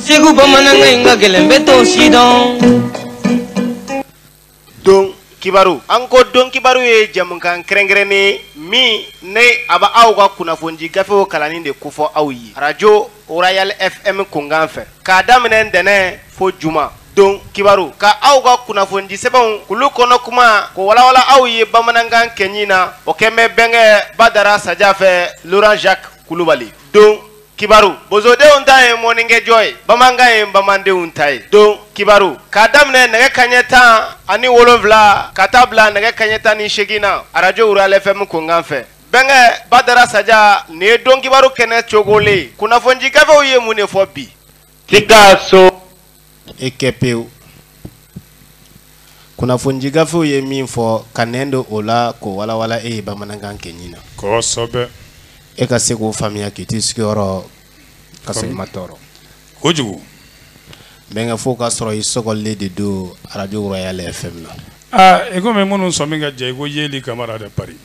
segu bamanankan in ka gɛlɛn bɛɛ t'o si dɔn don kibaru an ko don kibaru ye jɛmukan kɛrɛnkɛrɛnnen ye min ni a bɛ aw ka kunnafonidi gafew kalanni de kofɔ aw ye arajo royal fm kunkan fɛ k'a daminɛ ntɛnɛn fo juma don kibaru ka aw ka kunnafonidi sɛbɛnw k'olu kɔnɔ kuma ko walawala aw ye bamanankan kɛɲi na o kɛnɛ bɛ bɛnkɛ badara saja fɛ laurent jacques kulubali don kibaru bozodenw ta ye mɔnnikɛjɔ ye bamanankan ye bamanandenw ta ye don kibaru k'a daminɛ nɛgɛ kaɲɛ tan ani wolonfila ka taa bila nɛgɛ kaɲɛ tan ni segin na arajo royal fm kunkan fɛ bɛnkɛ badara saja nin ye don kibaru kɛnɛ cogolen ye kunnafonidi gafew ye mun de fɔ bi Sikaso. E kɛ pewu. kunnafonidi gafew ye min fɔ ka nɛn don o la k'o walawala e ye bamanankan kɛɲi na kosɛbɛ e ka se k'o faamuya k'i t'i sigiyɔrɔ ka sɔrɔ i ma tɔɔrɔ kojugu bɛnkɛ fo ka sɔrɔ i sɔgɔlen de don arajo royal fm na aa i komi minnu sɔmi ka jɛ i ko yeli kamara de paris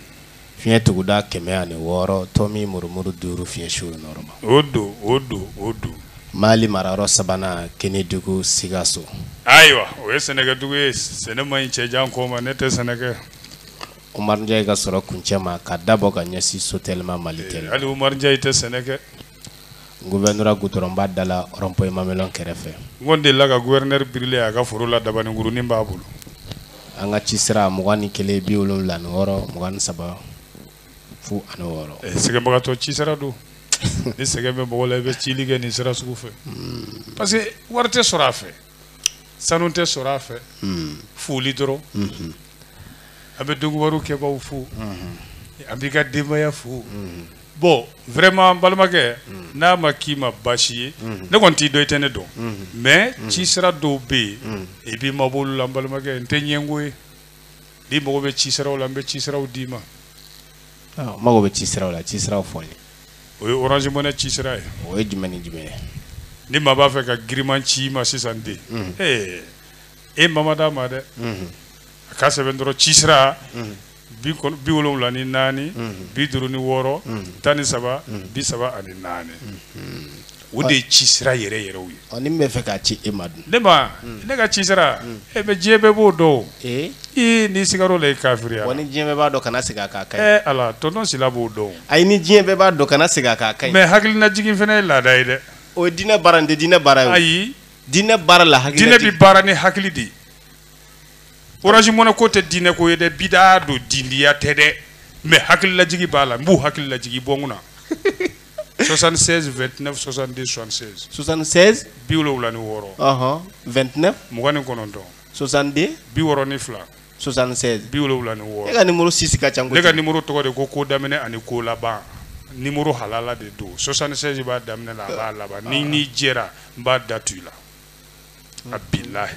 Fiɲɛ tuguda 106 tomi murumuru duuru fiɲɛ su nɔɔrɔma. O don, o don, o don. Mali marayɔrɔ sabanan Kenedugu Sikaso. Ayiwa, o ye sɛnɛkɛdugu ye. Sɛnɛ man ɲi cɛ jan kɔ ma, ne tɛ sɛnɛ kɛ. Umaru Njayi ka sɔrɔ kuncɛ ma, ka da bɔ ka ɲɛsin Sotelima, Malitɛli ma. Hali Umaru Njayi tɛ sɛnɛ kɛ. Gouvernorat goudrɔnba da la rond point Mamelɔn kɛrɛfɛ. N kɔni delila ka gouverneur birilen ye a ka foro la dabaninkurunin b'a bolo. An ka ci sira 21 76 23 fu ani wɔɔrɔ. Ɛɛ sɛgɛnbagatɔ ci sira don. Ni sɛgɛn bɛ mɔgɔ la i bɛ cili kɛ nin sira sugu fɛ. Parce que wari tɛ sɔrɔ a fɛ. sanu tɛ sɔrɔ a fɛ hmm. foli dɔrɔn hmm. an bɛ dogowaru kɛbaaw fo hmm. an b'i ka denbaya fo bɔn vraiment n balimakɛ n'a ma k'i ma baasi ye ne kɔni t'i dɔn i tɛ ne dɔn mais ci sira dɔw bɛ yen i b'i mabɔ olu la n balimakɛ n tɛ ɲɛngo ye n'i mago bɛ ci siraw la n bɛ ci siraw d'i ma Ɔ, n mago bɛ ci siraw la ci siraw fɔ n ye o ye orange money ci sira ye o ye jumɛn ni jumɛn ye ni maa b'a fɛ ka giriman ci i ma sisan ten ee e ma ma d'a ma dɛ a k'a sɛbɛn dɔrɔn ci sira bi kɔn- bi wolonwula ni naani bi duuru ni wɔɔrɔ tan ni saba bi saba ani naani O de ye ci sira yɛrɛ yɛrɛ ye ne b'a fɛ k'a ci e ma dun ne ne ka ci sira e bɛ diɲɛ bɛɛ b'o dɔn ee n'i sigara o la i kafiriya ni diɲɛ bɛɛ b'a dɔn kana segin a ka kɛ ala tonton sila b'o dɔn a ye ni diɲɛ bɛɛ b'a dɔn kana segin a ka kɛ mɛ hakilinajigin fana ye laada ye dɛ o diinɛ baara tɛ diinɛ baara ye ayi diinɛ baara la hakili diinɛ bɛ baara ni hakili de ye orange money ko tɛ diinɛ ko ye dɛ bida don didiya tɛ dɛ mɛ hakililajigin b'a la n b'u hakililajigin bɔ kunna na 76 29 62 76 76 bi wolonwula ni wɔɔrɔ ɔhɔn 29 mugan ni kɔnɔntɔn 62 bi wɔɔrɔ ni fila 76 bi wolonwula ni wɔɔrɔ e ka nimoro six ka ca ne ka nimoro tɔgɔ de ko ko daminɛ ani ko laban nimoro halala de don 76 b'a daminɛ la a b'a laban ni n'i jɛra n b'a da tu i la a bilahi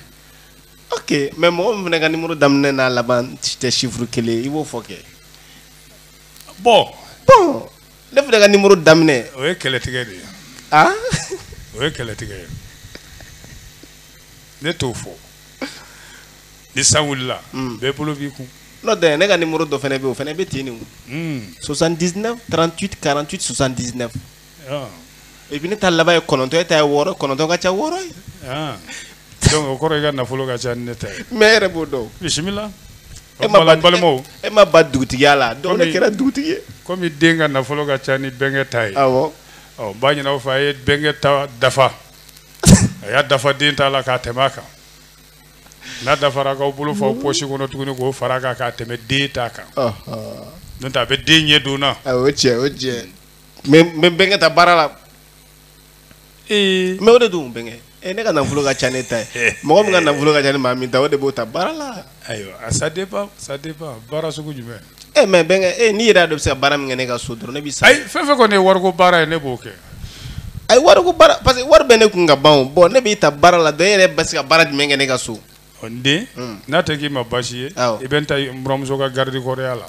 ok mais mɔgɔ min fana ka nimoro daminɛ n'a laban tɛ chiffre kelen i b'o fɔ kɛ bon bon ne fana ka numéro daminɛ o ye kɛlɛtigɛ de ye ah o ye kɛlɛtigɛ ye ne t'o fɔ ni san wulila hmm. bɛɛ bolo b'i kun n'o tɛ ne ka numéro dɔ fana bɛ yen o fana bɛ ten de o 79 38 48 79 et puis ne ta laban ye kɔnɔntɔn e ta ye wɔɔrɔ ye kɔnɔntɔn ka ca wɔɔrɔ ye ah. donc o kɔrɔ i ka nafolo ka ca ni ne ta ye mais e yɛrɛ b'o dɔn bisimila e ma ba balimaw e ma ba dugutigiya la donc ne kɛra dugutigi ye komi den ka nafolo ka ca ni bɛnkɛ ta ye awɔ ɔ n b'a ɲini aw fɛ a ye bɛnkɛ ta dafa a y'a dafa den ta la k'a tɛmɛ a kan n'a dafara k'aw bolo fa aw pɔsi kɔnɔ tuguni k'o fara a kan k'a tɛmɛ den ta kan n'o tɛ a bɛ den ɲɛ don na o ye tiɲɛ o ye tiɲɛ n bɛ bɛnkɛ ta baara la Eh. mais o de dun bɛnkɛ e eh, ne ka nafolo ka ca n'e ta ye mɔgɔ min ka nafolo ka ca ni maa min ta o de b'o ta baara la ayiwa ah, ça dépend ça dépend baara sugu jumɛn e eh, mais bɛnkɛ e n'i yɛrɛ y'a dɔn bɛ se ka baara min kɛ ne ka so dɔrɔn ne b'i sara ayi fɛn fɛn kɔni ye wariko baara ye ne b'o kɛ ayi wariko baara parce que wari bɛ ne kun ka ban o bɔn ne b'i ta baara la donc e yɛrɛ bɛ se ka baara jumɛn kɛ ne ka so n den hmm. n'a tɛ k'i ma baasi ye i bɛ n ta n buranmuso ka garidikɔrɔya la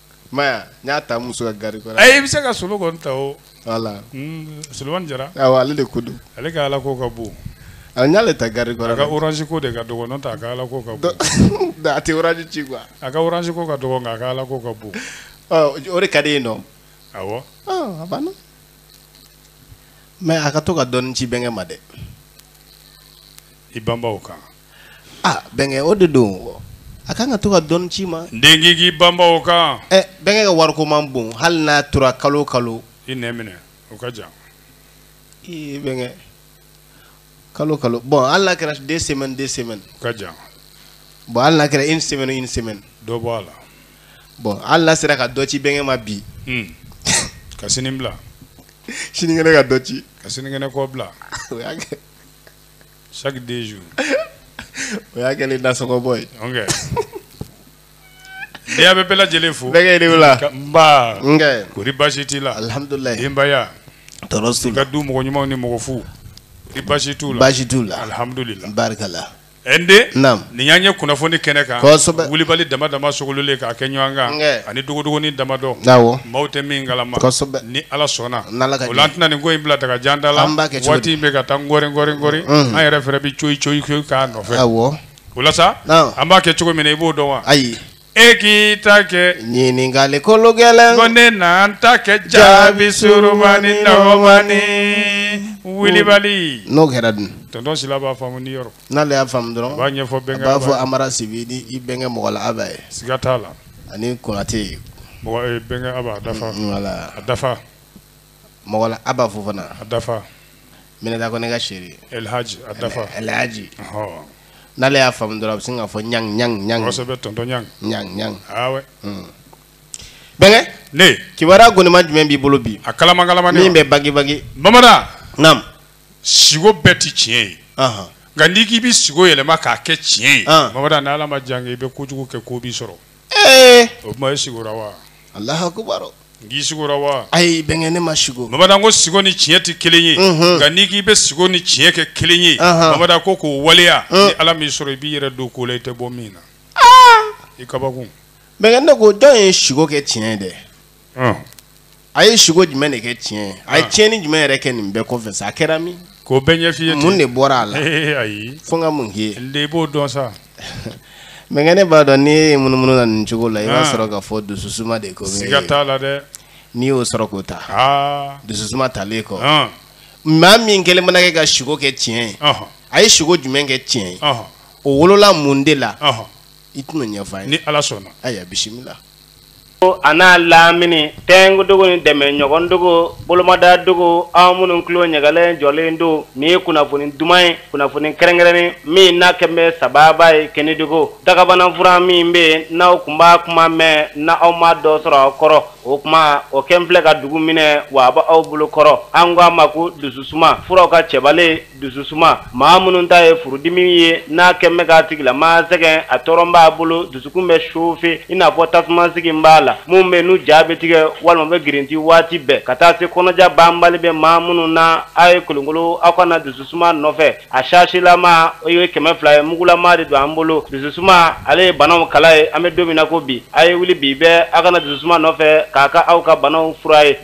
Maya n y'a ta muso ka garidikɔrɔ. Ayi i bɛ se ka Solo kɔni ta o. Wala. Unhun Solomani Jara. Awɔ ale de ko don. Ale ka alako ka bon. Awɔ n y'ale ta garidikɔrɔ. A ka orange ko de ka dɔgɔ n'o tɛ a ka alako ka bon. Donc a tɛ orange ci quoi. A ka orange ko ka dɔgɔ nka a ka alako ka bon. Ɔ o de ka d'e ye nɔ. Awɔ. Ɔ a banna. Mais a ka to ka dɔɔnin ci bɛnkɛ ma dɛ. I banba o kan. ah bɛnkɛ o de don a kan ka to ka dɔɔni ci i ma n den k'i k'i banba o kan ɛ eh, bɛnkɛ ka wariko man bon hali n'a tora kalo o kalo i n'a minɛ o ka jan ee bɛnkɛ kalo kalo bon hali n'a kɛra deux semaines deux semaines o ka jan bon hali n'a kɛra une semaine une semaine dɔ bɔ a la bon hali n'a sera ka dɔ ci bɛnkɛ ma bi hmm. ka sini bila sinikɛnɛ ka dɔ ci ka sinikɛnɛ kɔ bila o y'a kɛ Chaque deux jours. o y'a kɛlen nasɔngɔbɔ ye. ok. an bɛ bɛɛ lajɛlen fo. bɛnkɛ i ni wula. nba. bɛnkɛ. kɔri baasi t'i la. alihamudulilayi. denbaya. tɔɔrɔ si. i ka du mɔgɔ ɲumanw ni mɔgɔ fu. kɔri baasi t'u la. baasi t'u la. alihamudulilayi. barikala. ɛ n den. naamu. Nin y'an ye kunnafoni kɛnɛ kan kosɛbɛ Wulibali dama dama sogololen k'a kɛ ɲɔgɔn kan nkɛ ani dogodogoni damadɔ awɔ maaw tɛ min kalama kosɛbɛ ni Ala sɔnna n'Ala ka jɛn ye o la an tɛna nin ko in bila daga jan da la an b'a kɛ cogo di waati in bɛ ka taa nkɔri nkɔri nkɔri unhun an yɛrɛ fɛnɛ bɛ coyi coyi coyi k'a nɔfɛ awɔ o la sa naam an b'a kɛ cogo min na i b'o dɔn wa ayi e k'i ta kɛ ɲininkali kologɛlɛn ko ne na n ta kɛ jaabi surumani nɔgɔmani Wulibali n'o kɛra dun tonton Sila b'a faamu ni yɔrɔ n'ale y'a faamu dɔrɔn a b'a ɲɛfɔ bɛnkɛ a b'a fɔ amara sibi ni i bɛnkɛ mɔgɔ la aba ye siga t'a la ani konate mɔgɔ eh, bɛnkɛ aba a dafa mm, wala a dafa mɔgɔ la aba fofana a dafa minata kɔnɛ ka chéri elhaji a dafa elhaji n'ale y'a faamu dɔrɔn a bɛ sin k'a fɔ ɲang ɲang ɲang kosɛbɛ tɔntɔn ɲang ɲang ɲang awɛ ah mm. bɛnkɛ ne kibaruya gonima jumɛn b'i bolo bi a kalama kalama min bɛ bagi bagi bamada naam siko bɛɛ tɛ tiɲɛ ye nka n'i k'i bɛ siko yɛlɛma k'a kɛ tiɲɛ ye mamadu ni ala ma jan i bɛ kojugu kɛ ko b'i sɔrɔ o tuma e sigora wa alahu akbar n k'i sigora wa ayi bɛnkɛ ne ma siko mamadu n ko siko ni tiɲɛ tɛ kelen ye nka n'i k'i bɛ siko ni tiɲɛ kɛ kelen ye mamadu ko k'o waleya ni ala m'i sɔrɔ i b'i yɛrɛ don ko la i tɛ bɔ min na i kabakun bɛnkɛ ne ko dɔ ye siko kɛ tiɲɛ ye dɛ a ye siko jumɛn de kɛ tiɲɛ a ye tiɲɛnin jumɛn yɛrɛ kɛ nin bɛɛ kɔfɛ sa a kɛra min k'o bɛɛ ɲɛf'i ye mun de bɔra a la ayi fo n ka min k'i ye i b'o dɔn sa bɛnkɛ ne b'a dɔn n'i ye munumunu na nin cogo la i b'a sɔrɔ k'a fɔ dususuma de ko siga t'a la dɛ n'i y'o sɔrɔ k'o ta dususuma talen kɔ maa min kɛlen mana kɛ ka siko kɛ tiɲɛ ye a ye siko jumɛn kɛ tiɲɛ ye o wolola mun de la i tɛn'a ɲɛfɔ n ye ni ala sɔnna ayiwa bisimila a n'a lamini tɛnkudugu ni dɛmɛɲɔgɔndugu bolomadadugu aw minnu tulo ɲagalen jɔlen don nin ye kunnafoni duman ye kunnafoni kɛrɛnkɛrɛnnen min n'a kɛlen bɛ sababu ye kɛnɛdugu dagabanafura min bɛ yen n'aw tun b'a kuma mɛn na aw ma dɔ sɔrɔ aw kɔrɔ o tuma o kɛlen filɛ ka dugu minɛ wa a bɛ aw bolo kɔrɔ an ko a ma ko dususuma furaw ka cɛbalen dususuma maa minnu ta ye furudimi ye n'a kɛlen bɛ k'a tigilamaa sɛgɛn a tɔɔrɔ b'a bolo dusukun bɛ sofe i n'a fɔ tasuma sigilen b'a la minnu bɛ n'u ja bɛ tigɛ walima bɛ girinti waati bɛɛ ka taa se kɔnɔja banbali bɛ maa minnu na a ye kolonkolo aw ka na dususuma nɔfɛ a sashelama o ye kɛmɛ fila ye mugulama de don an bolo dususuma ale ye banaw kala ye an bɛ don min na ko bi a ye wuli bi bɛɛ aw ka na dususuma nɔfɛ k'a kɛ aw ka banaw fura ye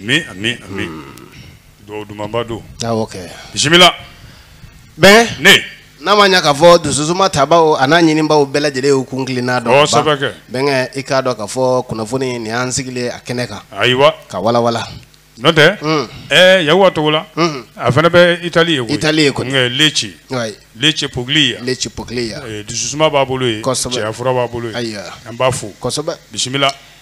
Ami ami ami dugawu dumanba don awɔ kɛ bisimila bɛnkɛ ne n'a ma ɲa k'a fɔ dususuma tabaw an'a ɲininbaw bɛɛ lajɛlen y'u kun kilenna dɔn ɔ sɛbɛ kɛ bɛnkɛ i k'a dɔn k'a fɔ kunnafoni nin y'an sigilen a kɛnɛ kan ayiwa k'a walawala n'o tɛ ɛɛ yakuba togola a fana bɛ itali yen koyi itali ye kɔni nka leci leci pogili leci pogili dususuma b'a bolo yen cɛya fura b'a bolo yen ayiwa an b'a fo kosɛbɛ bisimila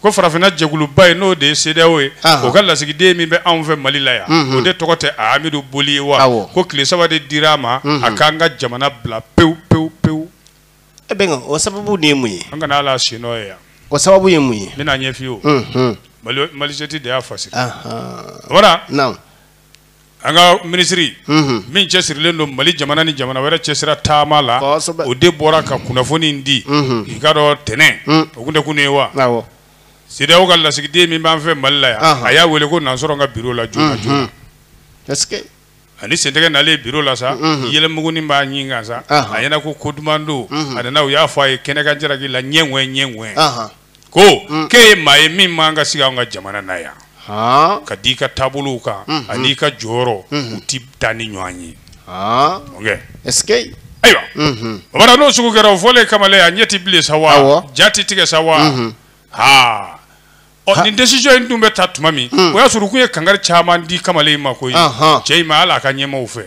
ko farafinna jɛkuluba ye n'o de ye CEDEAO ye o ka lasigiden min bɛ anw fɛ Mali la yan o de tɔgɔ tɛ Amidu Boli ye wa ko tile saba de dir'a ma a k'an ka jamana bila pewu pewu pewu e bɛnkɛ o sababu de ye mun ye an kana hal'a sennɔ ye yan o sababu ye mun ye n bɛn'a ɲɛf'i ye o Mali Malijet de y'a fasari wara naamu. an ka minisiri min cɛsirilen don mali jamana ni jamana wɛrɛ cɛsira taama la o de bɔra ka kunnafoni di i k'a dɔn tɛnɛn o tun tɛ kunun ye wa CEDEAO ka lasigiden min b'an fɛ mali la yan a y'a wele ko na n sɔrɔ n ka biro la joona ani sentɛgɛ nalen ye biro la sa yɛlɛmuguni b'a ɲin kan sa a ɲɛ na ko ko duman don a nana u y'a fɔ a ye kɛnɛ kan jaraki la ɲɛ ɲɛ ko mm. k'e ye maa ye min man ka sigi an ka jamana na yan ka da i ka taabolow kan mm-hmm. ani i ka jɔyɔrɔ mm-hmm. u ti taa ni ɲɔgɔn ye ayiwa mm-hmm. bamana n'o sugu kɛra o fɔlen kamalen a ɲɛ ti bilen sa wa ja ti tigɛ sa wa haa ɔ nin decision in tun bɛ ta tuma min mm. o y'a sɔrɔ u kun ye kankari caman di kamalen in ma koyi cɛ in ma hali a ka ɲɛmaaw fɛ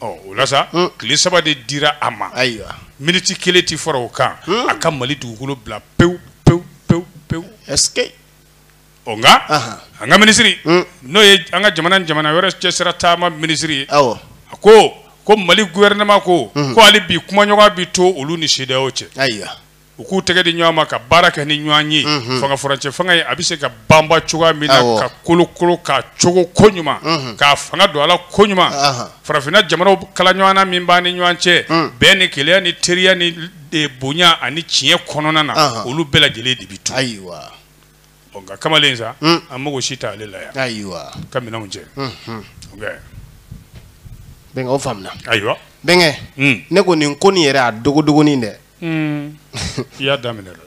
ɔ o la sa hmm. tile saba de dira a ma ayiwa miniti kelen tɛ fara o kan hmm. a ka mali dugukolo bila pewu pewu pewu pewu ɛsike ɔ nka an ka minisiri hmm. n'o ye an ka jamana ni jamana wɛrɛ cɛsira taama minisiri ye awɔ a ko ko mali gouvernement ko ko hali bi kumaɲɔgɔnya bi to olu ni CEDEAO cɛ ayiwa u k'u tɛgɛ di ɲɔgɔn ma ka baara kɛ ni ɲɔgɔn ye fanga furancɛ fanga ye a bɛ se ka banban cogoya min na ka kolokolo ka cogo koɲuman k'a fanga don a la koɲuman farafinna jamanaw kalaɲɔgɔnna min b'an ni ɲɔgɔn cɛ bɛɛ ni kelenya ni teriya ni bonya ani tiɲɛ kɔnɔna na olu bɛɛ lajɛlen de bɛ to ɔ nka kamalen sa hmm. an mago si t'ale la yan ayiwa k'a minɛnw cɛ bɛnkɛ o faamuna ayiwa bɛnkɛ hmm. ne ko nin ko nin yɛrɛ a dogodogonin dɛ hmm. i y'a daminɛ dɛ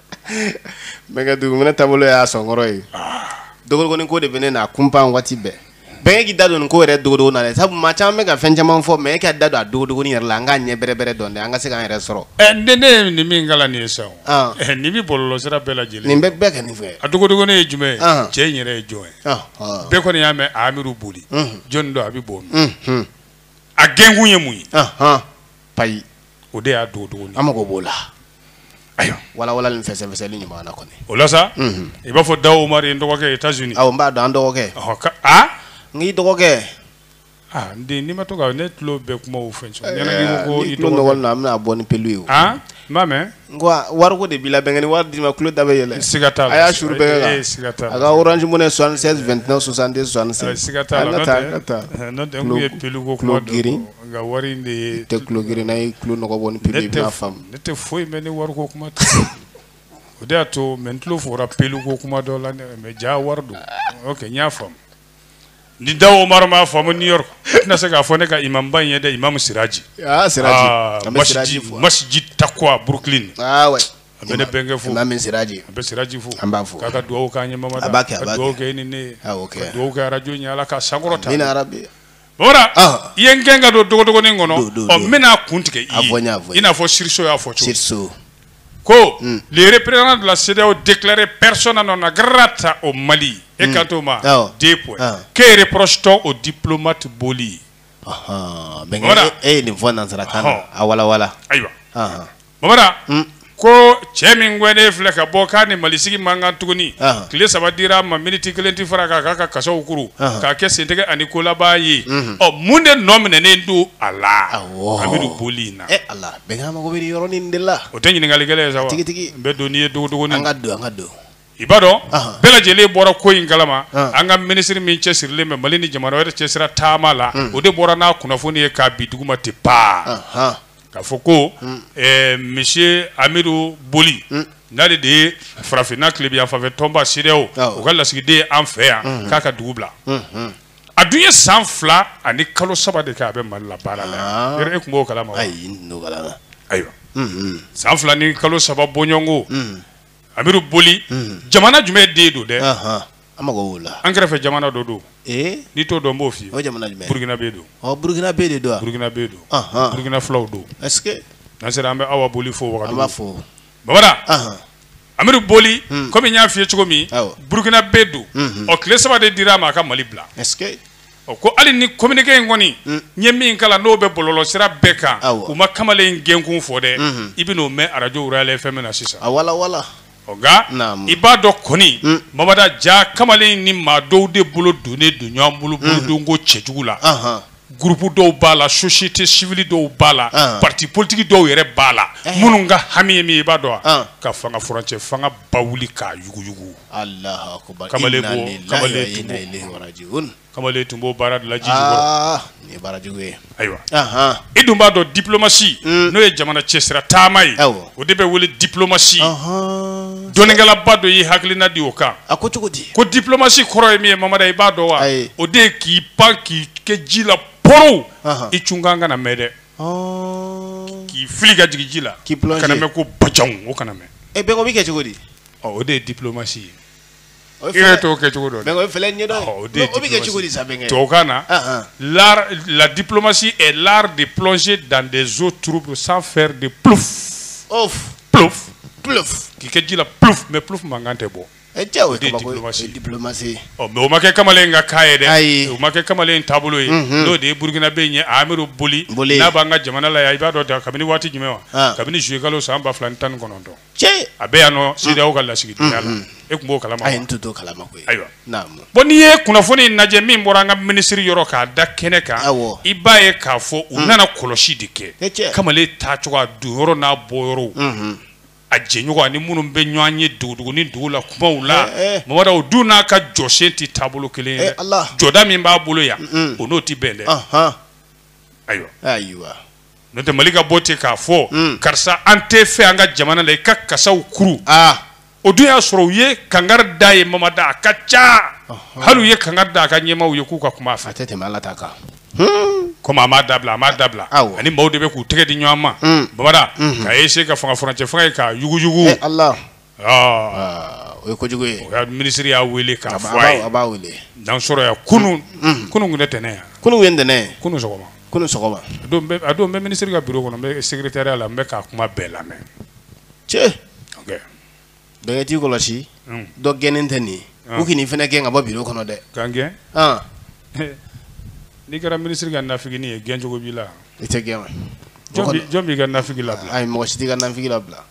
bɛnkɛ duguminɛ taabolo y'a sɔnkɔrɔ ye ah. dogodogonin ko de bɛ ne na kunpan waati bɛɛ bɛnkɛ e k'i da don nin ko yɛrɛ dogodogonin na dɛ sabu maa caman bɛ ka fɛn caman fɔ bɛnkɛ e k'i da don a dogodogoni yɛrɛ la an k'a ɲɛ bɛrɛbɛrɛ dɔn dɛ an ka se k'an yɛrɛ sɔrɔ eh, ne ne ye nin min kalan nin ye sisan ah. eh, nin bɛ bɔlɔlɔ sira bɛɛ lajɛlen nin bɛ bɛɛ kɛ nin fɛ a dogodogoni ye jumɛn ye ah. cɛ in yɛrɛ ye jɔn ye ah, bɛɛ kɔni y'a mɛn amidu boli jɔnni don a bɛ bɔ min a gɛnkun ye mun ye payi o de y'a don dugu an mago b'o la ayiwa walawala ni fɛsɛfɛsɛli ɲuman kɔni o la sa i b'a fɔ dawu mari n dɔgɔkɛ i taa z aw n b'a dɔn an dɔgɔkɛ n k'i dɔgɔkɛ n den n'i ma to ne tulo bɛɛ kuma fɛ na bɛna bɔ ni pelu ye o n b'a mɛn n wariko de b'i la bɛn ni wari d'i ma tulo da bɛ yɛlɛ siga a y'a s bɛɛ la siga a ka Orange Money 76 29 66 siga taa n'o ye peluko kuma g Nka wari in de ye tɛ tulo gerenna ye tulo nɔgɔ bɔ ni pe ne tɛ foyi mɛn ni wari ko kuma tɛ o de y'a to mɛ n tulo fɔra pelu ko kuma dɔ la mɛ ja wari don n y'a faamu ni Dawu Omar m'a faamu New York tɛna se k'a fɔ ne ka imamuba in ye dɛ imam Siraji masjid Takuwa Brooklyn a bɛ ne bɛnkɛ fo min siraji a bɛ siraji fo an b'a fɔ k'a ka dugawu k'a ɲɛmama b'a kɛ dugawu kɛ ni ne dugawu kɛ arajo ye ala k'a sankɔrɔta Voilà i ye n gɛn ka don dogodogonin kɔnɔ ɔ n bɛna kun tigɛ i ye i n'a fɔ source y'a fɔ cogo source ko hmm. le représentant de la CEDEAO déclaré persona non grata au Mali e hmm. ka t'o ma deux points ah. que reproche-t-on au diplomate Boli bɛnkɛ e ye nin fɔ nansarakan na a walawala ayiwa bamanan hmm. ko cɛ min gɛnen filɛ ka bɔ k'a ni malisigi man kan tuguni tile saba dira a ma miniti kelen tɛ far'a kan k'a ka kasaw kuru k'a kɛ sentɛgɛ ani kolaba ye mhm. ɔ mun de nɔ minɛnen don a la amidu boli in na eh, bɛɛ mago bɛ yɔrɔnin de la o tɛ ɲininkali gɛlɛn ye sa wa tigitigi n bɛ don n'i ye dogodogonin an ka don an ka don i b'a dɔn bɛɛ lajɛlen bɔra ko in kalama an ka minisiri min cɛsirilen bɛ mali ni jamana wɛrɛ cɛ sira taama la o de bɔra n'a kunnafoni ye k'a bin duguma tɛ pa k'a fɔ ko monsieur amidu boli n'ale de ye farafinna tilebinyanfan fɛ tɔnba CEDEAO u ka lasigiden an fɛ yan k'a ka dugu bila a dun ye san fila ani kalo saba de kɛ a bɛ mali la baara la e tun b'o kalama ayiwa san fila ni kalo saba bɔɲɔgɔnko amidu boli hmm. jamana jumɛn den don dɛ an mago b'o la an kɛrɛfɛ jamana dɔ don eh? n'i t'o dɔn n b'o f'i ye o jamana jumɛn burukinabɛ don ɔ burukinabɛ de don wa burukinabɛ don burukina filaw don est ce que n'an sera an bɛ awa boli fo wagadu an b'a fo babara amidu boli hmm. komi n y'a f'i ye cogo min burukinabɛ don ɔ tile saba de dira a ma a ka mali bila est ce que Ɔ ko hali ni communiqué in kɔni n ye min kalan n'o bɛ bɔlɔlɔsira bɛɛ kan u ma kamalen in gɛnkun fɔ dɛ i bɛ n'o mɛn arajo Royal FM na sisan a walawala ɔ nka i b'a dɔn kɔni Mamada Jaa kamalen in ni maa dɔw de bolo donnen don ɲɔgɔn bolo bolodonko cɛjugu la groupe dɔw b'a la société civile dɔw b'a la parti politique dɔw yɛrɛ b'a la minnu ka hami ye min ye i b'a dɔn wa ka fanga furancɛfanga bawuli k'a yuguyugu kamalen kamalen tun b'o baara dilanji ye baarajugu ye ayiwa i dun b'a dɔn diplomasi mm. n'o ye jamana cɛsira taama ye o de bɛ wele diplomasi dɔnnikɛlaba dɔ y'i hakilina di o kan a ko cogo di ko diplomasi kɔrɔ ye min ye mamada i b'a dɔn wa o de ye k'i pan k'i kɛ ji la porow i cunkan kana mɛn dɛ k'i fili ka jigin ji la kana mɛn ko bajanw o kana mɛn e bɛnkɛ o bɛ kɛ cogo di ɔ o de ye diplomasi ye O ye i yɛrɛ fɛlɛ- t'o kɛ cogo dɔn dɛ. mais o ye fɛlɛ ɲɛdɔn ye. Ɔ, o de ye Non, o bɛ kɛ diplomasi. cogo di sa Bɛnkɛ? Tubabukan na, Ah, ah. l'art- la diplomatie est l'art de plonger dans des eaux troubles sans faire de plouf Ouf, plouf plouf. k'i kɛ ji la plouf mais plouf mankan tɛ bɔ Eh, cɛ, o ye de ye kabako ye. diplomasi. O ye diplomasi ye. ɔ mais o ma kɛ kamalen ka ko ye dɛ Ayi. o ma kɛ kamalen taabolo ye n'o de ye burukinabe in ye amidu boli Boli. n'a b'an ka jamana la yan i b'a dɔn da- kabini waati jumɛn wa Ah. kabini juillet kalo san ba fila ni tan ni kɔnɔntɔn cɛ a bɛ yan nɔ CEDEAO ka lasigidenya la e tun b'o kalama wa ayi n tun t'o kalama koyi ayiwa naamu bon n'i ye kunnafoni in lajɛ min bɔra an ka minisiri yɔrɔ k'a da kɛnɛ kan awɔ i b'a ye k'a fɔ u nana kɔlɔsi de kɛ e cɛ kamalen taacogo a don yɔrɔ n'a bɔ yɔrɔw a jɛɲɔgɔn ani minnu bɛ ɲɔgɔn ye dogodogonin dogo la kumaw la Eh, eh. mamada o dun n'a ka jɔsen tɛ taabolo kelen ye Eh, dɛ. Ala. jɔda min b'a bolo yan o n'o tɛ bɛn dɛ ahan ayiwa ayiwa n'o tɛ mali ka bɔ ten k'a fɔ hmm. karisa an t'i fɛ an ka jamana la i ka kasaw kuru ah. o dun y'a sɔrɔ u ye kangari d'a ye mamada a ka ca hali u ye kangari da a ka ɲɛmaaw ye k'u ka kuma a fɛ a tɛ tɛmɛ ala ta kan hmm. komi a m'a dabila a m'a dabila a ni maaw de bɛ k'u tɛgɛ di ɲɔgɔn ma hmm. mamada ka essayer ka fanga furancɛ fanga ye ka yuguyugu eh, o ye kojugu ye o minisiri y'a weele k'a fɔ a ye a b'a weele dan sɔrɔ yan kunun kunun tun tɛ ntɛnɛn ye wa kunun ye ntɛnɛn ye kunun sɔgɔma kunun sɔgɔma a don n bɛ minisiri ka biro kɔnɔ n bɛ segretariya la n bɛ k'a kuma bɛɛ lamɛn cɛ bɛnkɛ t'i kɔlɔsi dɔ gɛnnen tɛ nin ye u kan'i fana gɛn ka bɔ biro kɔnɔ dɛ k'an gɛn n'i kɛra minisiri ka nafigini ye gɛn cogo b'i la i tɛ gɛn wa jɔn b'i ka nafigi labila ayi mɔgɔ si t'i ka nafigi labila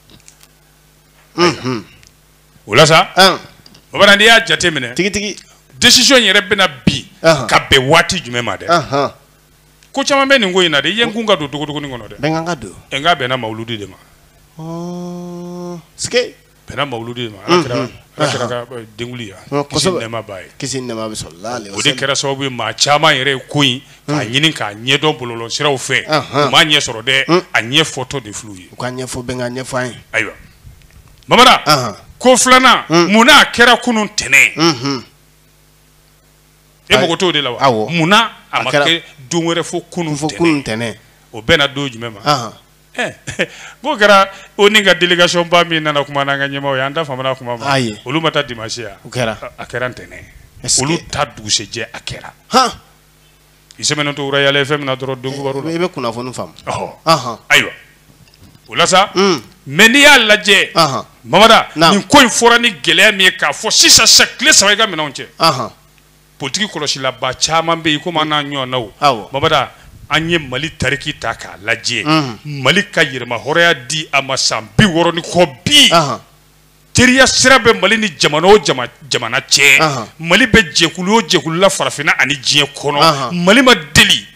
unhun, o la sa an, mamada n'i y'a jate minɛ tigitigi decision yɛrɛ bɛ na bi Ahan. ka bɛn waati jumɛn ma dɛ anhan, ko caman bɛ nin ko in na dɛ i ye n kun ka don dogodogoni kɔnɔ dɛ bɛnkɛ an ka don ɛ nka bɛnna mawuludi de ma Ɔɔ, sike bɛnna mawuludi de ma ala kira Mhm. ala kira ka eh, denkunli ya Ɔ, kisi kosɛbɛ. ni nɛɛma b'a ye kisi ni nɛɛma bɛ sɔrɔ la ale o de kɛra sababu ye maa caman yɛrɛ ye ko in k'a ɲini k'a ɲɛdɔn bɔlɔlɔ siraw fɛ Anhan. u m'a ɲɛ sɔrɔ dɛ Un. a ɲɛ fɔtɔ de fil'u ye u ka ɲɛfɔ bɛn ka ɲɛfɔ an ye ayiwa mamada Anhan. ko filanan Un. mun n'a kɛra kunun tɛnɛn Mhm. e Ayi. mago t'o de la wa Awɔ. mun na a A ma kɛra- kɛ don wɛrɛ fo kunun fo kunun tɛnɛn tɛnɛn o bɛnna don jumɛn ma Anhan. Eh, n'o kɛra ONU ka délégation ba min nana kuma n'an ka ɲɛmaaw ye an da famana kuma ma Ayi. olu ma taa dimanche ya u kɛra a kɛra ntɛnɛn Est-ce olu que- taa dugusɛjɛ a kɛra han i sɛmɛnen to wura yala fɛn min na dɔrɔn don baro la i bɛ kunnafoni faamu ɔhɔ ayiwa o la sa hmm. mais n'i y'a lajɛ mamada nin ko in fɔra ni gɛlɛya min ye k'a fɔ sisan sa tile saba i ka minɛnw cɛ politiki kɔlɔsilaba caman bɛ yen komi an n'a ɲɔgɔnnaw mamada an ye mali tariki ta k'a lajɛ mali ka yɛrɛmahɔrɔnya di a ma san bi wɔɔrɔ ni kɔ bi teriya sira bɛ mali ni jamana o jamana cɛ mali bɛ jɛkulu o jɛkulu la farafinna ani diɲɛ kɔnɔ mali ma deli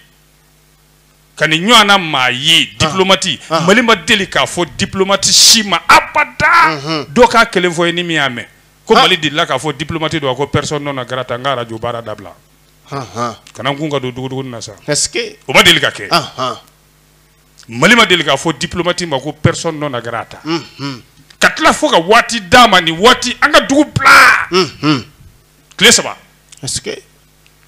ka nin ɲɔgɔnna maa ye diplomati mali ma deli k'a fɔ diplomati si ma abada dɔ k'a kelen fɔ ye ni min y'a mɛn ko mali delila k'a fɔ diplomati dɔ ma ko personne non grata n ka arajo baara dabila kana kun ka don dugu na sa o ma deli ka kɛ mali ma deli k'a fɔ diplomati ma ko personne non grata mhm. ka tila fo ka waati d'a ma nin waati an ka dugu bila mhm. tile saba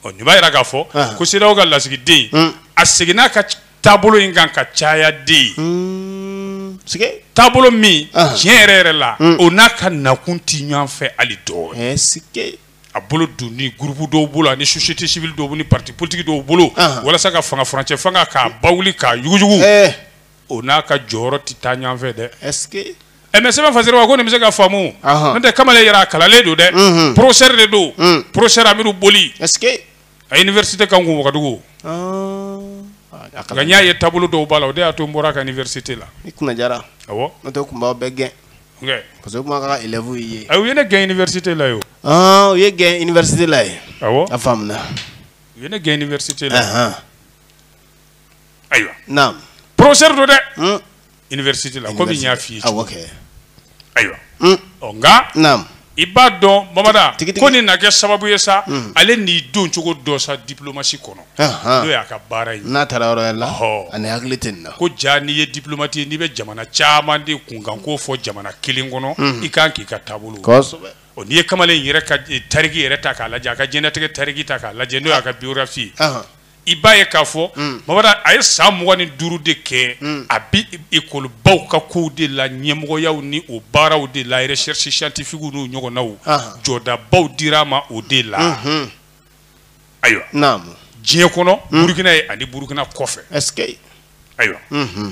ɔ nin b'a yira k'a fɔ ah. ko CEDEAO ka lasigiden mm. a seginna ka taabolo in kan ka caya dɛ mm. taabolo min ah. tiɲɛ yɛrɛ yɛrɛ la mm. o n'a ka nakun tɛ ɲɔgɔn fɛ hali dɔɔnin a bolo donni groupe dɔw bolo ani société civile dɔw ni pati politiki dɔw bolo walasa ka fanga furancɛ fanga k'a ba wuli k'a yuguyugu eh. o n'a ka jɔyɔrɔ tɛ taa ɲɔgɔnfɛ dɛ eh, mais sɛbɛn fasiri ko ne ma se k'a faamu n'o tɛ kamalen yɛrɛ a kalannen don dɛ mhm. professeur de don mm. professeur amidu boli a université kan kun wagadugu n y'a ye taabolo dɔw b'a la o de y'a to n bɔra ka université la tun bɛɛ gɛn parce que kuma ka élève ye a u ye ne gɛn université la yo ah u y'e gɛn université la ye awɔ a faamuna u ye ne gɛn université la ahan ayiwa naam professeur don dɛ université la comme n y'a f'i ye awɔ kɛ ayiwa ɔ nka naam i b'a dɔn mamada ko nin na kɛ sababu ye sa hmm. ale n'i don cogo dɔ sa diplomasi kɔnɔ n'o y'a ka baara ye n'a taara yɔrɔ la ani hakili tɛ nin na ko jaa n'i ye diplomati ye n'i bɛ jamana caman de kunkanko fɔ jamana kelen kɔnɔ hmm. i kan k'i ka taabolo kosɛbɛ o n'i ye kamalen yɛrɛ ka eh, tariki yɛrɛ ta k'a lajɛ a ka diɲɛnatigɛ tariki ta k'a lajɛ n'o y'a ka biographie i b'a ye k'a fɔ mm. mabada a ye san mugan ni duuru de kɛ mm. a bi ekɔlibaw ka kow de la ɲɛmɔgɔyaw ni o baaraw de la recherche scientifique n'u ɲɔgɔnnaw jɔdabaw dira a ma o de la mm-hmm. ayiwa diɲɛ kɔnɔ mm. burukina ye ani burukina kɔfɛ ayiwa mm-hmm.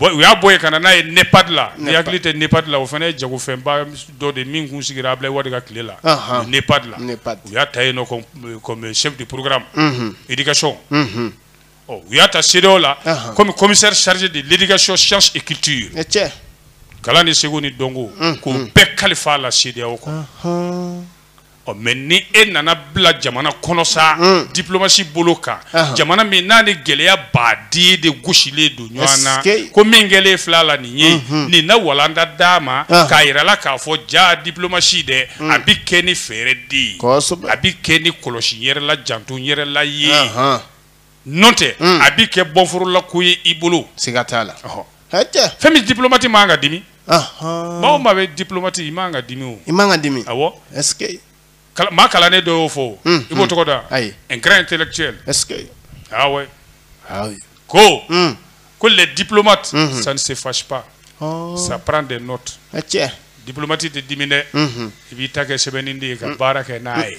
u y'a bɔ yen ka na n'a ye NEPAD la n'i hakili tɛ NEPAD la o fana ye jagofɛnba dɔ de ye min kun sigira Abilaye Wade ka tile la NEPAD la u y'a ta yen nɔ comme chef de programme éducation ɔ u y'a ta CEDEAO la comme commissaire chargé de l'éducation sciences et culture kalan ni seko ni dɔnko k'o bɛɛ kalifa a la CEDEAO kɔnɔ. ɔ mais ni e nana bila jamana kɔnɔ sa hmm. diplomasi bolo kan jamana min n'a ni gɛlɛya baden de gosilen don ɲɔgɔn na ko min kɛlen filɛ a la nin ye hmm. nin na walanda d'a ma k'a yira a la k'a fɔ jaa diplomasi dɛ hmm. a bɛ kɛ ni fɛɛrɛ de ye a bɛ kɛ ni kɔlɔsi yɛrɛ la janto yɛrɛ la ye n'o tɛ hmm. a bɛ kɛ bɔfla ko ye i bolo siga t'a la fɛn min diplomate man ka dimi maaw ma bɛ diplomate i man ka dimi o i man ka dimi maa kalannen dɔ y'o fɔ hmm, i b'o hmm. tɔgɔ da un grand intellectuel awa ko ko les diplomates ça ne se fâche pas oh. ça prend des notes cɛ diplomate tɛ dimi dɛ i b'i ta kɛ sɛbɛnni de ye ka baara kɛ n'a ye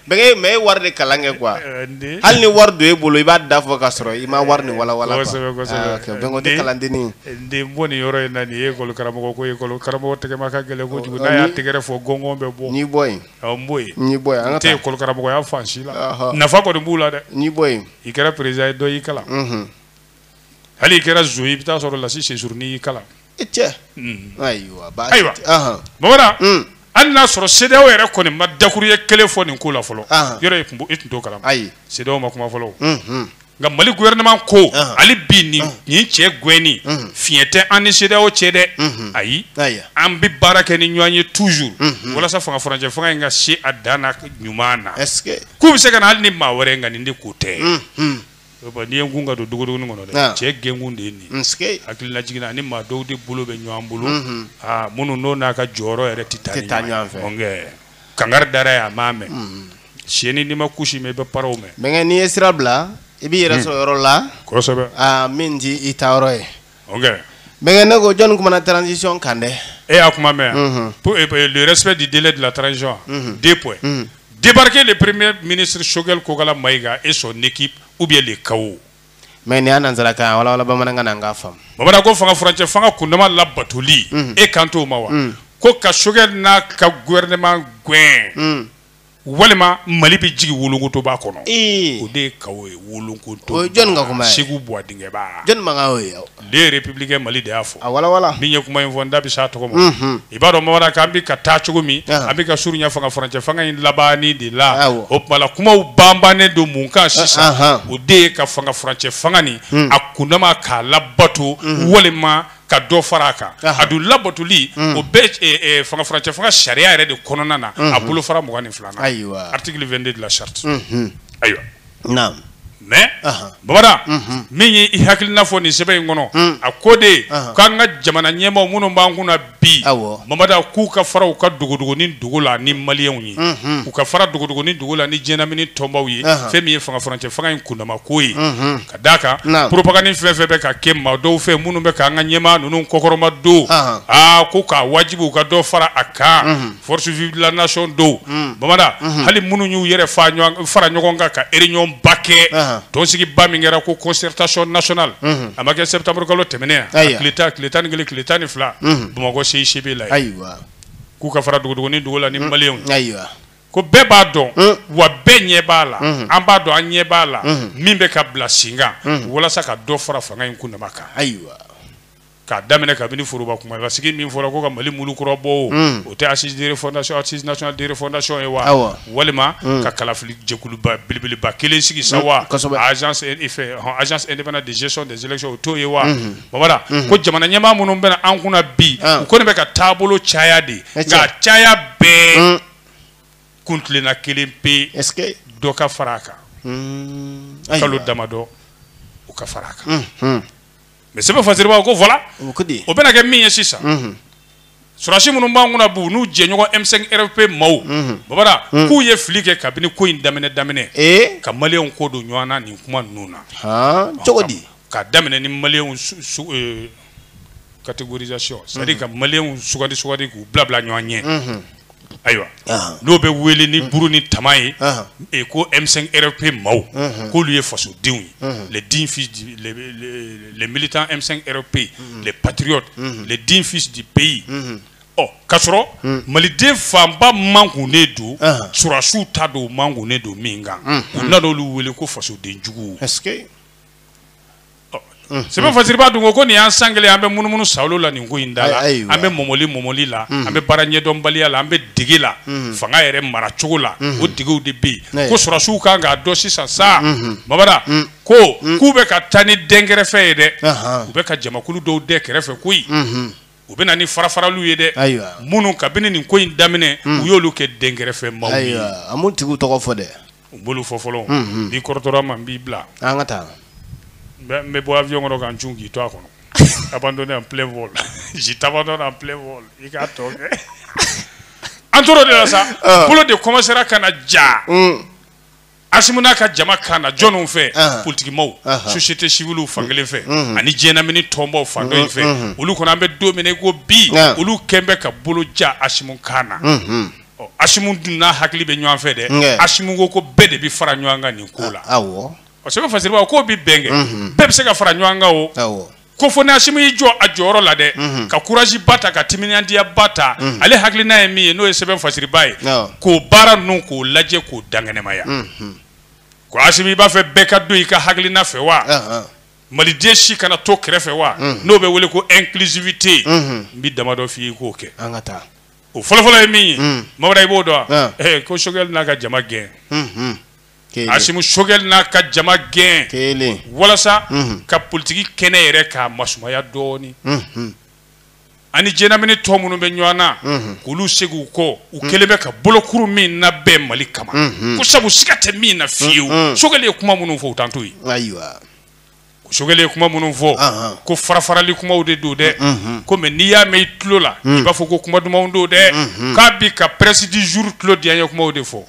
Bɛnkɛ mais e ye wari de kalan kɛ quoi ɛɛ n den hali ni wari don e bolo i b'a da fɔ ka sɔrɔ i ma wari nin walawala quoi kosɛbɛ kosɛbɛ aa ok Bɛnkɛ o tɛ kalandennin ye n den n bɔ nin yɔrɔ in na nin ye école karamɔgɔ ko ye école karamɔgɔ tɛgɛma ka gɛlɛn kojugu n'a y'a tɛgɛrɛ fɔ gɔngɔn bɛ bɔ n y'i bɔ yen ɔ n bɔ yen n y'i bɔ yen an ka n tɛ taa école karamɔgɔya fan si la ɔhɔ nafa kɔni b'u la dɛ n y'i bɔ yen i kɛra président ye dɔ y'i kalan unhun hali i kɛra zo i bɛ t'a sɔrɔ lasi sɛ surunnin y'i kalan cɛ ayiwa ayiwa bamanan mm. hali n'a sɔrɔ CEDEAO yɛrɛ kɔni ma dakuruɲɛ kelen fɔ nin ko la fɔlɔ yɔrɔ i tun t'o kalama ayi CEDEAO ma kuma fɔlɔ mm-hmm. nka mali gouvernement ko hali bi nin nin cɛ gɛnni fiɲɛ tɛ an ni CEDEAO cɛ dɛ ayi an bɛ baara kɛ ni ɲɔgɔn ye toujours walasa fanga furancɛ fanga in ka se a dan na ɲuman na k'u bɛ se ka na hali ni maa wɛrɛ nka nin de ko tɛ N'i ye kun ka don dogo kɔnɔ dɛ cɛ gɛnkun de ye nin hakililajigin na ni maa dɔw de bolo bɛ ɲɔgɔn bolo minnu n'o n'a ka jɔyɔrɔ yɛrɛ tɛ taa ɲɔgɔn fɛ kankari dara a ya a m'a mɛn shɛnin n'i ma kusi mɛn i bɛ paraw mɛn bɛnkɛ n'i ye sira bila i b'i yɛrɛ sɔrɔ yɔrɔ la min tɛ i taayɔrɔ ye bɛnkɛ ne ko jɔnni kumana transition kan dɛ e y'a kuma mɛn yan pour le respect du délai de la transition deux points débarquer le premier ministre Choguel Kokalla Maïga et son équipe ou bien le chaos mais nin y'a nanzarakan ye a walawala bamanankan na n k'a faamu bamanan ko fanga furancɛ fanga kundama labatoli e kan t'o ma wa ko ka Choguel n'a ka gouvernement gɛn walima mali bɛ jigin wolokotoba kɔnɔ o de ye ka ye wolokoto segu bɔ dingɛba Le Républicain mali de y'a fɔ a min ye kuma in fɔ n da bɛ se a tɔgɔ ma i b'a dɔn babara k'an bɛ ka taa cogo min an bɛ ka surunya fanga furancɛ fanga in laban de la o tuma kumaw banbannen don mun kan sisan o de ye ka fanga furancɛ fanga nin a kundama k'a labato walima ka dɔ fara a kan a dun labatoli mm. o bɛɛ eh, eh, fanga furancɛ fanga sariya yɛrɛ de kɔnɔna na a mm-hmm. bolo fara mugan ni filanan ayiwa article 22 de la charte mm-hmm. ayiwa naam mais babada mm-hmm. min ye i hakilina fɔ nin sɛbɛn in kɔnɔ mm. a ko de k'an ka jamana ɲɛmaaw minnu b'an kunna bi babada k'u ka fara u ka dogodogonin dogo la ni maliyɛnw ye u ka fara dogodogonin dogo la ni diɲɛlamini tɔnbaw ye fɛn min ye fanga furancɛ fanga in kundama ko ye A d'a kan Naamu. propagande fɛn fɛn bɛ ka kɛ maa dɔw fɛ minnu bɛ k'an ka ɲɛmaa ninnu kɔkɔrɔma don Ahan. aa ko k'a wajibi u ka dɔ fara a kan forces vives de la nation dɔw babada hali minnu y'u yɛrɛ fa ɲɔgɔn- fara ɲɔgɔn kan ka réunion ba kɛ Ahan. tɔnsigiba min kɛra ko concertation nationale a ma kɛ septembre kalo tɛmɛnen yan a Ayiwa. tile tan tile tan ni kelen tile tan ni fila bamakɔ CICB la ye ayiwa k'u ka fara dogodogonin dogo la ni maliyɛnw ayiwa ko bɛɛ b'a dɔn mm. wa bɛɛ ɲɛ b'a la mm-hmm. an b'a dɔn an ɲɛ b'a la mm-hmm. min bɛ ka bila sen kan mm-hmm. walasa ka dɔ fara fanga in kundama kan ayiwa k'a daminɛ kabini foroba kuma la sigi min fɔra ko ka mali mulu kura bɔ o mm. o tɛ assise de refondation assise nationale de refondation ye wa walima mm. ka kalafili jɛkuluba belebeleba kelen sigi sa wa agence agence indépendante de gestion des élections o t'o ye wa babara ko jamana ɲɛmaa minnu bɛna an kunna bi ah. u kɔni bɛ ka taabolo caya de nka caya bɛɛ kuntilenna kelen pe dɔ ka fara a kan hmm. kalo damadɔ u ka fara a kan hmm, hmm. mais sɛbɛn fasiribaw ko voila o bɛna kɛ min ye sisan sɔrɔdasi minnu b'an kunna bi n'u jɛɲɔgɔn M5 RFP maaw babara k'u ye fili kɛ kabini ko in daminɛ daminɛ eh? ka maliyɛnw kɔ don ɲɔgɔn na nin kuma ninnu na cogo di ka daminɛ ni maliyɛnw eh, catégorisation c'est à dire ka maliyɛnw sugandi sugandi k'u bila bila ɲɔgɔn ɲɛ ayiwa nin bɛ wele ni buru ni tama ye e ko M5 RFP maaw k'olu ye fasodenw ye les dignes fils du les, les, les militants M5 RFP les patriotes les dignes fils du pays ɔ k'a sɔrɔ maliden fanba mankunnen don sɔrɔdasiw ta don mankunnen don min kan k'u nana olu wele ko fasoden juguw sɛbɛn fasiriba dun ko ko nin y'an san kelen an bɛ munumunu sa la nin ko in da la an bɛ mɔmɔli mɔmɔli la an bɛ baara ɲɛdɔnbaliya la an bɛ dege la fanga yɛrɛ mara cogo la o degew de bɛ yen ko sɔrɔdasiw kan k'a dɔn sisan sa mabara ko k'u bɛ ka taa ni dɛnkɛrɛfɛ ye dɛ u bɛ ka jamakulu dɔw dɛn kɛrɛfɛ koyi u bɛ na ni farafaraliw ye dɛ minnu kabini nin ko in daminɛ u y'olu kɛ dɛnkɛrɛfɛ maaw ye a m'u tigi tɔgɔ fɔ dɛ U bolo fɔ fɔlɔ n'i kɔrɔtɔra ma n b'i bila an ka taa n bɛ bɔ aviyɔn kɔnɔ ka cun k'i to a kɔnɔ abandonné en plein vol je t'abandonne en plein vol i k'a tɔ kɛ an tora o de la sa bolo de kɔmansera ka na ja asimu n'a ka jama kan na jɔnw fɛ politiki maaw société civile fan kelen fɛ ani diɲɛ lamini tɔnbaw fan dɔ in fɛ olu kɔnɔ an bɛ don min i ko bi olu kɛlen bɛ ka bolo ja asimu kan na Asimu dun n'a hakili bɛ ɲɔgɔn fɛ dɛ asimu ko ko bɛɛ de bɛ fara ɲɔgɔn kan nin ko la sɛbɛn fasiriba ko bɛ bɛn kɛ bɛɛ bɛ se ka fara ɲɔgɔn kan o ko fo ni asimu y'i jɔ a jɔyɔrɔ la dɛ ka kuraji ba ta ka timinadiya ba ta ale hakili n'a ye min ye n'o ye sɛbɛn fasiriba ye k'o baara ninnu k'o lajɛ k'o dankɛnɛmaya ko asimu i b'a fɛ bɛɛ ka don i ka hakilina fɛ wa maliden si kana to kɛrɛfɛ wa n'o bɛ wele ko inclusivité n bɛ damadɔ f' i k'o kɛ o fɔlɔfɔlɔ ye min ye mm. mabara i b'o dɔn wa eh. eh, ko sogɛli n'a ka jama gɛn mm-hmm. asimu sogɛli n'a ka jama gɛn walasa mm-hmm. ka politiki kɛnɛ yɛrɛ k'a masumaya dɔɔni mm-hmm. ani jɛn lamini tɔn minnu bɛ ɲɔgɔn na k'olu segin u kɔ u mm. kɛlen bɛ ka bolokuru min na bɛn mali kama ko sabu siga tɛ min na fiyewu sogɛli ye kuma minnu fɔ u t'an to yen sogɛli ye kuma minnu fɔ ko farafarali kumaw de don dɛ kɔmi n'i y'a mɛn i tulo la i b'a fɔ ko kuma dumanw don dɛ k'a bi ka prince du jour tulo diyanye kumaw de fɔ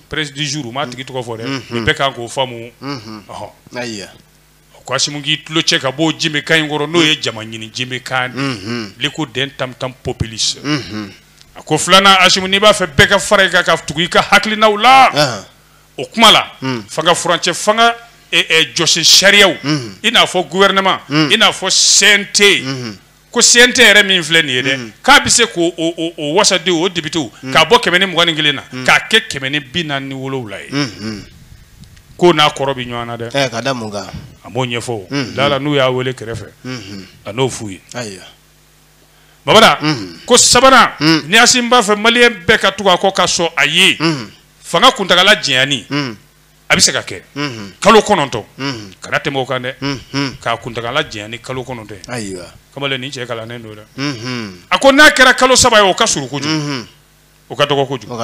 prince du jour m'a tigi tɔgɔ fɔ dɛ bɛ kan k'o faamu ɔ a ko asimu k'i tulo cɛ ka bɔ jenbe kan in kɔrɔ n'o ye jamaɲini jenbe kan de ko den tam-tam populiste a ko filanan asimu n'i b'a fɛ bɛɛ ka fara i kan ka tugu i ka hakilina la o kuma la fanga furancɛ fanga jɔsen sariyaw i n'a fɔ gouvernement i n'a fɔ CNT ko CNT yɛrɛ min filɛ nin ye dɛ k'a bɛ se ko wasadenw o depitew k'a bɔ kɛmɛ ni mugan ni kelen na k'a kɛ kɛmɛ ni bi naani ni wolowula ye ko n'a kɔrɔ bɛ ɲɔgɔn na dɛ a m'o ɲɛfɔ da la n'u y'a wele kɛrɛfɛ a n'o f'u ye mabara ko sabanan ni asimu b'a fɛ malien bɛɛ ka tugu a kɔ ka sɔn a ye fanga kuntaala jɛya ni a bɛ se ka kɛ kalo kɔnɔntɔn kana tɛmɛ o kan dɛ k'a kuntaala jɛya ni kalo kɔnɔntɔn ye ayiwa kamalen nin cɛ kalannen don dɛ a ko n'a kɛra kalo saba ye o ka surun kojugu o ka dɔgɔ kojugu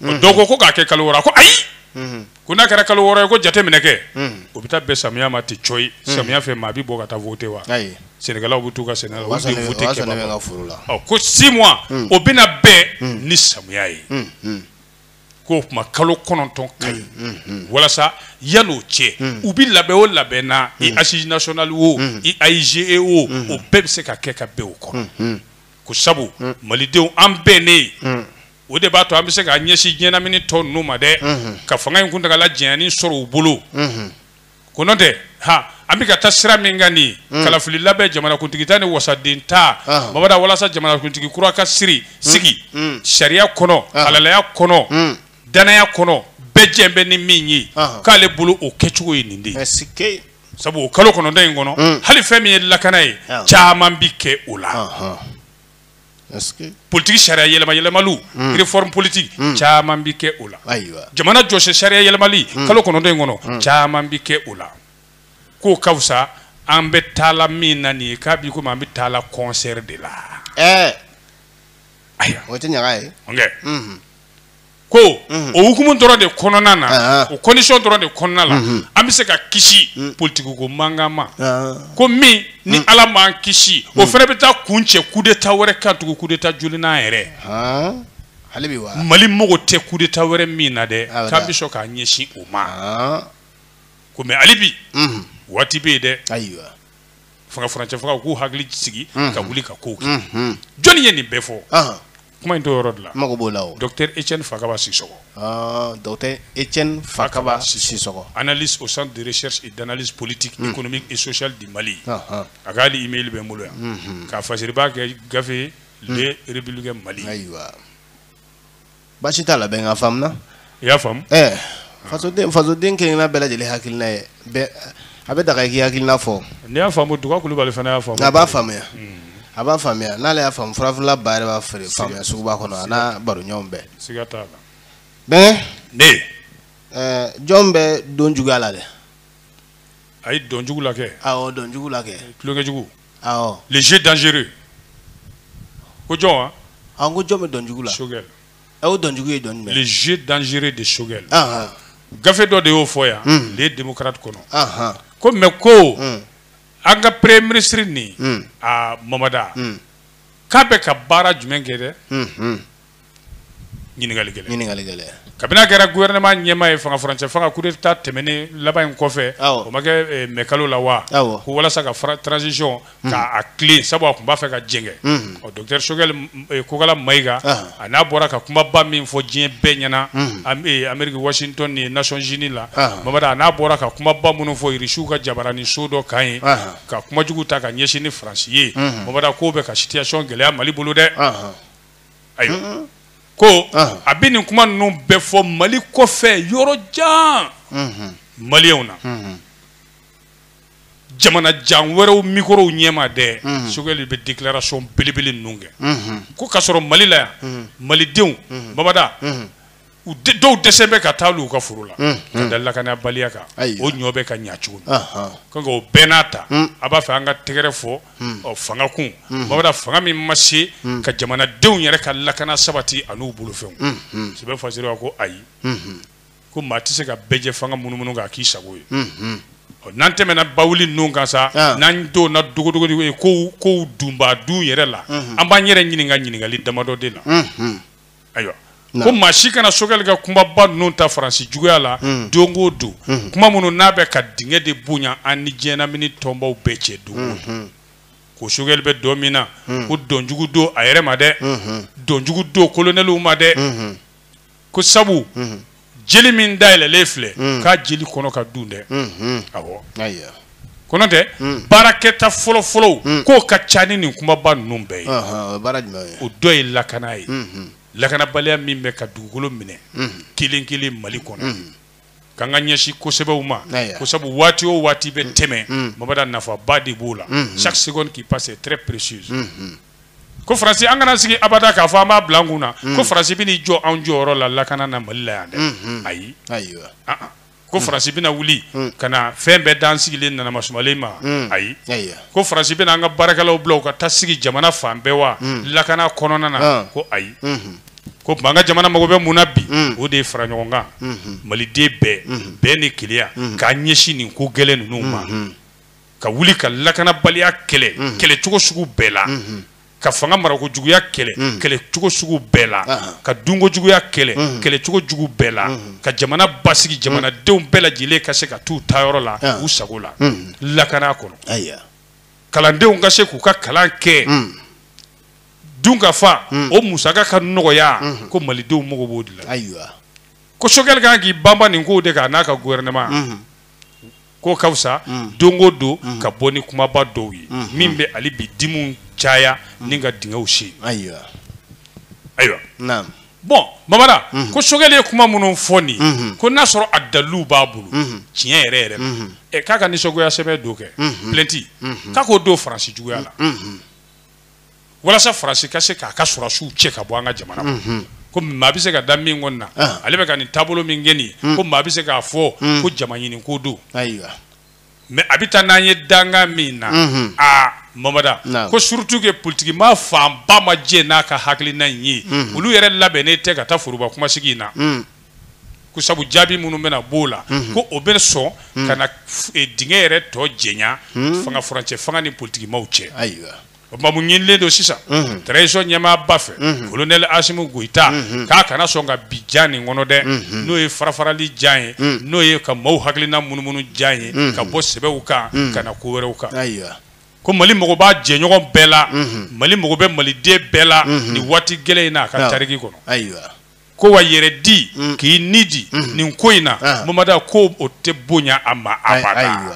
mhm. dɔw ko ko k'a kɛ kalo wɔɔrɔ ko ayi mhm. ko n'a kɛra kalo wɔɔrɔ ye ko jateminɛ kɛ mhm. o bɛ taa bɛn samiya ma ten cɔyi samiya fɛ maa bɛ bɔ ka taa vote wa sɛnɛkɛlaw bɛ t'u ka sɛnɛ la olu de vote kɛbagaw ko six mois o bɛna bɛn ni samiya ye ko o tuma kalo kɔnɔntɔn ka ɲi walasa yan'o cɛ u bɛ labɛn o labɛn na i assises nationales o i AIGE o o bɛɛ bɛ se ka kɛ ka bɛn o kɔnɔ ko sabu malidenw an bɛnnen o de b'a to an bɛ se ka ɲɛsin diɲɛlamini tɔ ninnu ma dɛ ka fanga in kuntagala janyali sɔrɔ u bolo ko n'o tɛ ha an bɛ ka taa sira min kan nin kalafili labɛn jamanakuntigita ni wasaden ta babada walasa jamanakuntigi kura ka siri sigi sariya kɔnɔ halalaya kɔnɔ danaya kɔnɔ bɛɛ jɛn bɛ ni min ye k'ale bolo o kɛcogo ye nin de ye sabu o kalo kɔnɔntɔn in kɔnɔ hali fɛn min ye lakana ye caman bi kɛ o la. politigi sariya yɛlɛma yɛlɛmaliw hmm. réforme politique hmm. caman bi kɛ o la jamana jɔsen sariya yɛlɛmali hmm. kalo kɔnɔntɔn in kɔnɔ caman bi kɛ o la k'o ka fisa an bɛ taala min na nin ye k'a bi komi an bɛ taala concert de la eh. ayiwa o tɛ ɲaga ye ko o hukumu dɔrɔn de kɔnɔna na ah. o condition dɔrɔn de kɔnɔna la mhm. an bɛ se ka kisi mm. politiki ko mankan ma ah. ko min ni mm. ala m'an kisi o mm. fana bɛ taa kuncɛ coup d'état wɛrɛ kan tugun coup d'état jolinan yɛrɛ ah. mali mago tɛ coup d'état wɛrɛ min na dɛ k'an bɛ sɔn k'an ɲɛsin o ma ko mais hali bi mhm. waati bɛ yen dɛ fanga furancɛ fanga u k'u hakili sigi ka wuli ka kow kɛ jɔnni ye nin bɛɛ fɔ kuma in to yɔrɔ de la mago b'o la o docteur Etienne Fakaba Sisɔkɔ ah, docteur Etienne Fakaba Sisɔkɔ analyste au centre de recherche et d'analyse politique hmm. économique et sociale du Mali ah, ah. a ka hali email bɛ n bolo yan hmm, hmm. ka fasiriba kɛ gafe le républicain Mali ayiwa baasi t'a la bɛnkɛ a faamuna i y'a faamu ɛɛ fasoden fasoden kelen-kelenna bɛɛ lajɛlen hakilina ye bɛɛ a bɛ daga i k'i hakilina fɔ n'i y'a faamu duga kulubali fana y'a faamu a b'a faamuya a b'a faamuya n'ale y'a faamu furafeerela ba yɛrɛ b'a feere faamuya suguba kɔnɔ a n'a baroɲɔgɔn bɛɛ siga t'a la bɛnkɛ ne ɛɛ jɔn bɛ dɔn juguya la dɛ a ye dɔn jugu la kɛ awɔ dɔn jugu la kɛ tulonkɛ jugu awɔ le jeu dangereux ko jɔn wa an ko jɔn bɛ dɔn jugu la Choguel aw dɔnjugu ye dɔnni le jeu dangereux de Choguel gafe dɔ de y'o fɔ yan hmm. le démocrate kɔnɔ ko mais ko hmm. an ka premier ministre ni hmm. a Mamada k'a bɛ ka baara jumɛn kɛ dɛ ɲininkali gɛlɛn ɲininkali gɛlɛn kabini a kɛra gouvernement ɲɛmaa ye fanga furancɛ fanga coup d'état tɛmɛnen laban in kɔfɛ o ma kɛ eh, mɛkalo la wa ko walasa ka transition Hmm. K'a tilen sabu a tun b'a fɛ ka jɛngɛ hmm. ɔ docteur Choguel eh, Kokala Mayiga ah. a n'a bɔra ka kumaba min fɔ diɲɛ bɛɛ ɲɛna hmm. eh, Amérique Washington yen Nations Unies la ah. Babada a n'a bɔra ka kumaba minnu fɔ Irisiw ka jabaranin so dɔ kan ye ah. ka kuma jugu ta ka ɲɛsin ni Faransi ye Babada k'o bɛ ka situation gɛlɛya Mali bolo dɛ ayiwa ko a bɛ nin kuma ninnu bɛɛ fɔ Mali kɔfɛ yɔrɔ jan maliyɛnw na. jamana jan wɛrɛw mikorow ɲɛma dɛ Choguel bɛ déclaration belebele ninnu kɛ ko k'a sɔrɔ mali la yan malidenw babada u dɔw dɛsɛlen bɛ ka taa u ka foro la ka da lakanabaliya kan o ɲɔ bɛ ka ɲa cogo min o bɛɛ n'a ta a b'a fɛ an ka tɛgɛrɛ fɔ fanga kun babada fanga min ma se ka jamanadenw yɛrɛ ka lakana sabati an'u bolofɛnw sɛbɛ fasira ko ayi ko maa tɛ se ka bɛɛjɛ fanga munumunu k'a k'i sago ye n'an tɛmɛna bawuli ninnu kan sa ah. n'an donna dogodogonin ko ko dunba dun yɛrɛ la an b'an yɛrɛ ɲininka ɲininkali damadɔ de la ayiwa ko maa si kana Choguel ka kumaba ninnu ta faransi juguya la mm. don o don mm-hmm. kuma minnu n'a bɛ ka dingɛ de bonya an ni diɲɛlamini tɔnbaw bɛɛ cɛ don o don mm-hmm. ko Choguel bɛ dɔn min na mm. ko dɔnjugu don a yɛrɛ ma dɛ mm-hmm. dɔnjugu don kolonɛliw ma dɛ ko sabu jeli min dayɛlɛlen filɛ k'a jeli kɔnɔ ka dun dɛ awɔ ko nɔntɛ baarakɛta fɔlɔfɔlɔw k'o ka ca ni nin kumaba ninnu bɛɛ ye o dɔ ye lakana ye lakanabaliya min bɛ ka dugukolo minɛ kelen kelen mali kɔnɔ k'an k'an ɲɛsin ko sɛbɛw ma ko sabu waati o waati bɛ tɛmɛ mm. babada nafaba de b'o la mm-hmm. chaque seconde qui passe est très précieuse mm-hmm. ko faransi an kana an sigi abada k'a fɔ an b'a bila an kun na mm. ko faransi bɛna i jɔ anw jɔyɔrɔ la lakana na mali la yan dɛ mm-hmm. ayi ah, ah. ko mm. faransi bɛna wuli ka na fɛn bɛɛ d'an sigilen n'an masumalen ma ayi ko faransi bɛna an ka baarakɛlaw bila u ka taa sigi jamana fan bɛɛ wa lakana kɔnɔna na ah. ko ayi k'o tuma an ka jamana mago bɛ mun na bi mm. o de ye fara ɲɔgɔn kan mm-hmm. maliden bɛɛ mm-hmm. bɛɛ ni kelenya mm-hmm. k'a ɲɛsin nin ko gɛlɛn ninnu ma ka wuli ka lakanabaliya kɛlɛ kɛlɛ cogo sugu bɛɛ la ka fanga marako juguya kɛlɛ kɛlɛ cogo sugu bɛɛ la ah. ka dunko juguya kɛlɛ kɛlɛ cogo jugu bɛɛ la ka jamana basigi jamanadenw bɛɛ lajɛlen ka se ka t'u taayɔrɔ la ah. u sago la lakana kɔnɔ kalandenw ka se k'u ka kalan kɛ dunkafa hmm. o musaka ka nɔgɔya hmm. ko malidenw mago b'o de la ayiwa ko sogɛli kan k'i banba nin kow de kan n'a ka gouvernement hmm. k'o ka fisa don o don ka bɔ ni kumaba dɔw ye min bɛ hali bi dimiw caya ni ka dingɛw sen ayiwa ayiwa naam bɔn mamada ko sogɛli ye kuma minnu fɔ nin ye ko n'a sɔrɔ a daliluw b'a bolo tiɲɛ yɛrɛ yɛrɛ la k'a ka nisɔngoya sɛbɛn don kɛ plainte k'a k'o don faransi juguya la walasa faransi ka se k'a ka sɔrɔsiw cɛ ka bɔ an ka jamana kɔnɔ mhm. ko maa bɛ se ka da min kɔni na ah. ale bɛ ka nin taabolo min kɛ nin hmm. ko maa bɛ se k'a fɔ hmm. ko jama ɲiniko don mais a bɛ taa n'an ye dankan min na mhm. aa mamada ko surtout que politikimaa fanba ma jɛn n'a ka hakilina in ye mhm. olu yɛrɛ labɛnnen tɛ ka taa foroba kumasigi in na hmm. ko sabu jaabi minnu bɛna b'o la mhm. ko o bɛ sɔn mhm. ka na e, dingɛ yɛrɛ tɔ janya mhm. fanga furancɛ fanga ni politikimaw cɛ o tuma mun ɲinilen don sisan transition ɲɛmaaba fɛ kolonɛli asimu goyita k'a kana sɔn ka bin jan nin kɔnɔ dɛ n'o ye farafarali jan ye n'o ye ka maaw hakilina munumunu jan ye ka bɔ sɛbɛw kan ka na ko wɛrɛw kan ko mali mago b'a jɛɲɔgɔn bɛɛ la mali mago bɛ maliden bɛɛ la nin waati gɛlɛn in na a ka tariki kɔnɔ ko wa yɛrɛ di mm. k'i ni di mm. nin ko in na ah. mamada ko o tɛ bonya a ma abada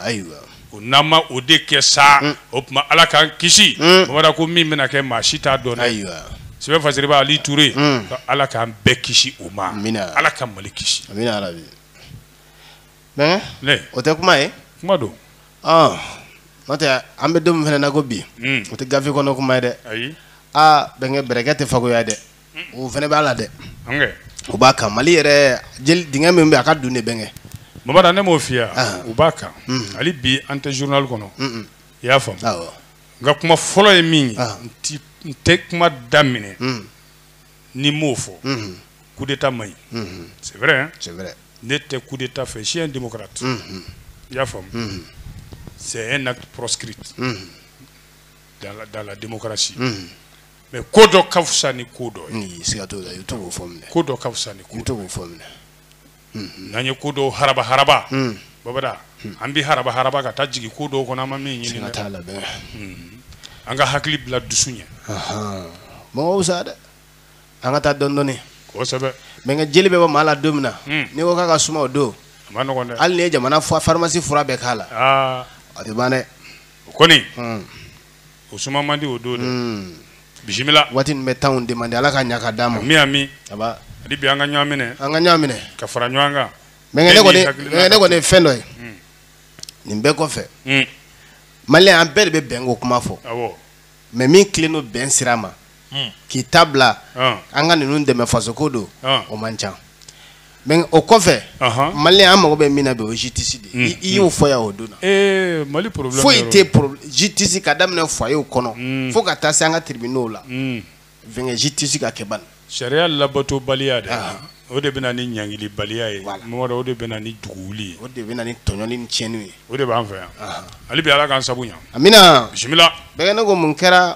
o n'an ma o de kɛ sa mm. o tuma ala k'an kisi mamada ko min bɛna kɛ maa si t'a dɔn dɛ sɛbɛn fasiribaa ali ture ala k'an bɛɛ kisi o ma ala ka mali kisi bɛnkɛ ne o tɛ kuma ye kuma don ɔn n'o tɛ an bɛ don min fana na ko bi o tɛ gafe kɔnɔ kuma ye dɛ ayi aa bɛnkɛ bɛrɛkɛ tɛ fagoya dɛ o fana b'a la dɛ o b'a kan mali yɛrɛ dingɛ min bɛ a ka dun dɛ bɛnkɛ mamada ne m'o fiya ah. u b'a kan mm. hali bi an tɛ journal kɔnɔ i y'a faamu nka kuma fɔlɔ ye min ye ah. n tɛ kuma daminɛ mm. ni n m'o fɔ mm-hmm. coup d'état man ɲi mm-hmm. c'est vrai hein? c'est vrai ne tɛ coup d'état fɛ je suis un démocrate mm-hmm. i y'a faamu c'est un acte proscrit dans la, dans la démocratie mais ko dɔ ka fisa ni ko dɔ ye siga t'o la i bɛ to k'o fɔ minɛ ko dɔ ka fisa ni ko i bɛ to k'o fɔ minɛ n'an ye ko dɔw haraba haraba hmm. babada hmm. an bɛ haraba haraba ka taa jigin ko dɔw kɔnɔ an ma min ɲini dɛ hmm. an ka hakili bila dusu ɲɛ mɔgɔ wusa dɛ an ka taa dɔɔni dɔɔni kosɛbɛ bɛnkɛ jeli bɛ bɔ maa la don min na n'i ko k'a ka suma o don a man nɔgɔn dɛ hali n'i ye jamana pharmacie fura bɛɛ k'a la a tɛ ban dɛ o kɔni o suma man di o don dɛ hmm. bisimila waati min bɛ tan o de man di ala ka ɲa ka d'a ma ami ami aba hali bi an ka ɲɔgɔn minɛ an ka ɲɔgɔn minɛ ka fara ɲɔgɔn kan mɛnkɛ ne kɔni mɛnkɛ ne kɔni ye fɛn dɔ ye hmm. nin bɛɛ kɔfɛ hmm. maliyɛn an bɛɛ de bɛ bɛnko kuma fɔ awɔ maa min tilennen don bɛn sira ma hmm. k'i ta bila ah. an ka ninnu dɛmɛ fasoko don ah. o man ca mɛ o kɔfɛ mali an mago bɛ min na bi o jitisi de hmm. i y'o fɔ yan o don na eh, foyi tɛ jitisi ka daminɛ fɔyew kɔnɔ hmm. fo ka taa se an ka tiribinɛw la fɛnkɛ jitisi ka kɛ bani sariya labatobaliya de o de bɛ na ni ɲangilibaliya ye mamadu o de bɛ na ni duguwuli ye o de bɛ na ni tɔɲɔni ni tiɲɛniw ye o de b'an fɛ yan hali bi ala k'an sabu ɲa amina bisimila bɛɛ ne ko mun kɛra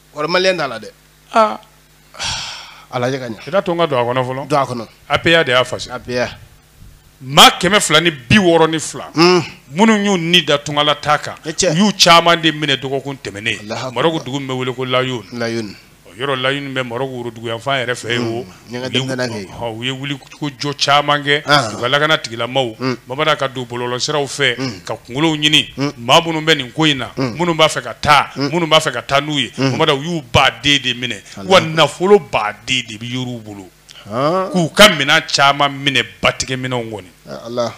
Wali maliyɛn t'a la dɛ. Aa a lajɛ ka ɲɛ. I t'a to n ka don a kɔnɔ fɔlɔ. Don a kɔnɔ. APA de y'a fasi. APA. Maa kɛmɛ fila ni bi wɔɔrɔ ni fila. Un. Minnu y'u ni da tungala taa kan. I cɛ. U y'u caman de minɛ dɔgɔkun tɛmɛnen. Alahu akibaru. Marɔku dugu min bɛ wele ko Layoun. Layoun. Ɔ yɔrɔ Layoun bɛ Marɔku woroduguyanfan yɛrɛ fɛ yen o. Un. u ye wulikajɔ caman kɛ u ka lakana tigilamaw mm. mamadu ka don bɔlɔlɔsiraw fɛ mm. ka kunkolow ɲini mm. maa minnu bɛ nin ko in na minnu b'a fɛ ka taa minnu b'a fɛ ka taa n'u ye mamadu u y'u ba den de minɛ wa nafolo ba den de yera u bolo k'u ka minɛn caman minɛ batigɛ minɛnw kɔni ah,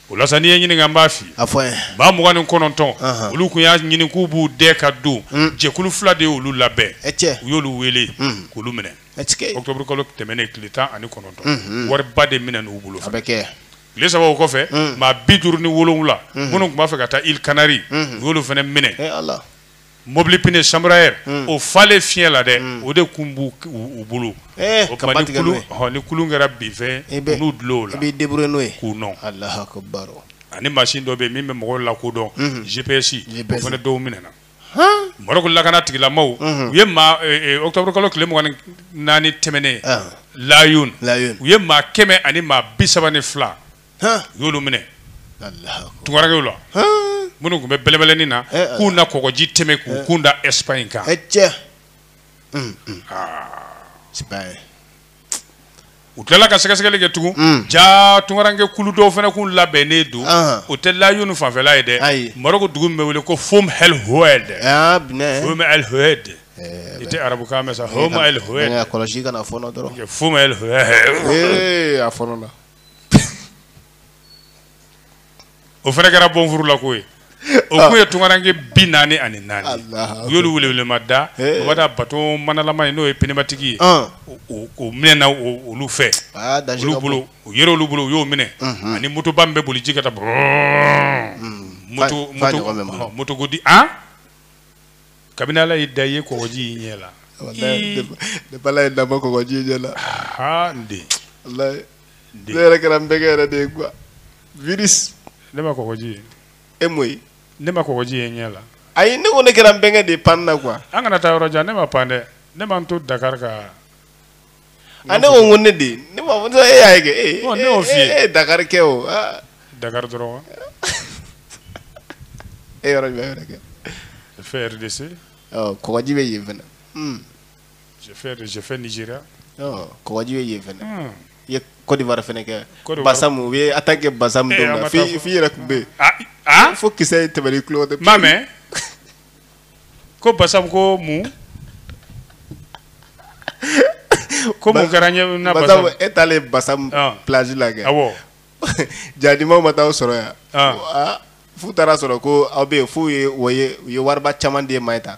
o la sa n'i ye n ɲininka n b'a f'i ye maa mugan ni kɔnɔntɔn olu tun y'a ɲini k'u b'u dɛ ka don jɛkulu fila de y'olu labɛn u y'olu wele k'olu minɛ otobrukalo tɛmɛnen tile tan ani kɔnɔntɔn wariba de minɛn'u bolo a bɛ kɛ tile saba o kɔfɛ maa bi duuru ni wolowula minnu tun b'a fɛ ka taa ili kanari u y'olu fana minɛ mɔbili pini chambre à air o falen fiɲɛ la dɛ o de tun b' u bolo o ni kulu kɛra binfɛn n'u dulo la buru n'o ye k'u nɔ ani masin dɔ bɛ min bɛ mɔgɔw lakodɔn GPS o fana dɔw minɛna lakana tigilamaw u ye maa otobrikalo tile mugan ni naani tɛmɛnen layun u ye maa kɛmɛ ani maa bi saba ni fila u y'olu minɛ tunkarankew la minnu tun bɛ bɛlɛbɛlɛni na eh, eh. k'u na kɔgɔji tɛmɛ k'u eh. kun da ɛsipaɲi kan u tilala ka sɛgɛsɛgɛli kɛ tugun mm. ja tunkaranke kulu dɔw fana kun labɛnnen don ah. o tɛ layun fanfɛla ye dɛ maroko dugu min bɛ wele ko fom el hoed ah, fom el hoed eh, i tɛ arabukan mɛn sa fom eh, el hoed eh, kɔlɔsi kana fɔnɔ dɔrɔn fom el hoed a fɔ nɔ la o fana kɛra bɔnfurulako ye o kun ye tunkaranke bi naani ani naani u y'olu welewelema da o b'a da bato manalama ye n'o ye pneumatique ye o minɛna olu fɛ olu bolo u yɛrɛ olu bolo u y'o minɛ ani motoba min bɛ boli ji kan taa bɔn moto moto moto ko di an kabini ala y'i da i ye kɔgɔji y'i ɲɛ la ne bala ye dabɔ kɔgɔji ɲɛ la aa n den ne yɛrɛ kɛra n bɛnkɛ yɛrɛ de ye quoi virus ne ma kɔgɔji ye e m'o ye ne ma kɔgɔji ye n ɲɛ la ayi ne ko ne kɛra n bɛnkɛ de ye panni na quoi an kana taa yɔrɔ jan ne ma pan dɛ ne ma n to Dakar ka a ne ko n ko ne de ye ne m'a fɔ e y'a ye kɛ e Bon, ne y'o f'i ye. e ye Dakar kɛ o ah, Dakar dɔrɔn wa e yɔrɔ jumɛn wɛrɛ kɛ fait RDC ɔ kɔgɔji bɛ yen fana Hmm. j'ai fait de j'ai fait Nigeria oh kɔgɔji bɛ yen fɛnɛ hmm. i ye Côte d'Ivoire fɛnɛ kɛ Basam u ye attaque kɛ Basam don min na f'i f'i yɛrɛ tun bɛ yen ah, ah? fo kisɛ tɛmɛna i tulo fɛ n m'a mɛn ko Basam ko mun ko mun kɛra ne na Basam e taalen Basam ah. plage la kɛ awɔ jadimaw ma taa aw sɔrɔ yan f'u taara sɔrɔ ko aw bɛ yen f'u ye u ye wariba caman di e ma ye tan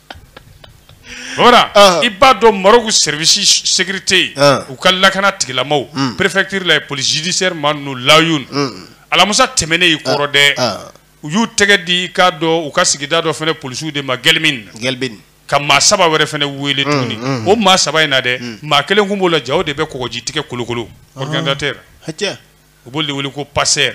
i b'a dɔn Maroc service sécurité u ka lakana tigilamaw hmm. préfecture la police judiciaire maa ninnu Laâyoune hmm. alamusa tɛmɛnen y'i kɔrɔ dɛ u y'u tɛgɛ di i k'a dɔn u ka sigida dɔ fana polisiw de ma Guelmim Guelmim ka maa saba wɛrɛ fana wele hmm, tuguni o maa saba in na dɛ maa kelen kun b'o la jaa o de bɛ kɔgɔji tigɛ kolokolo ah. organisateur u b'olu de wele ko passeur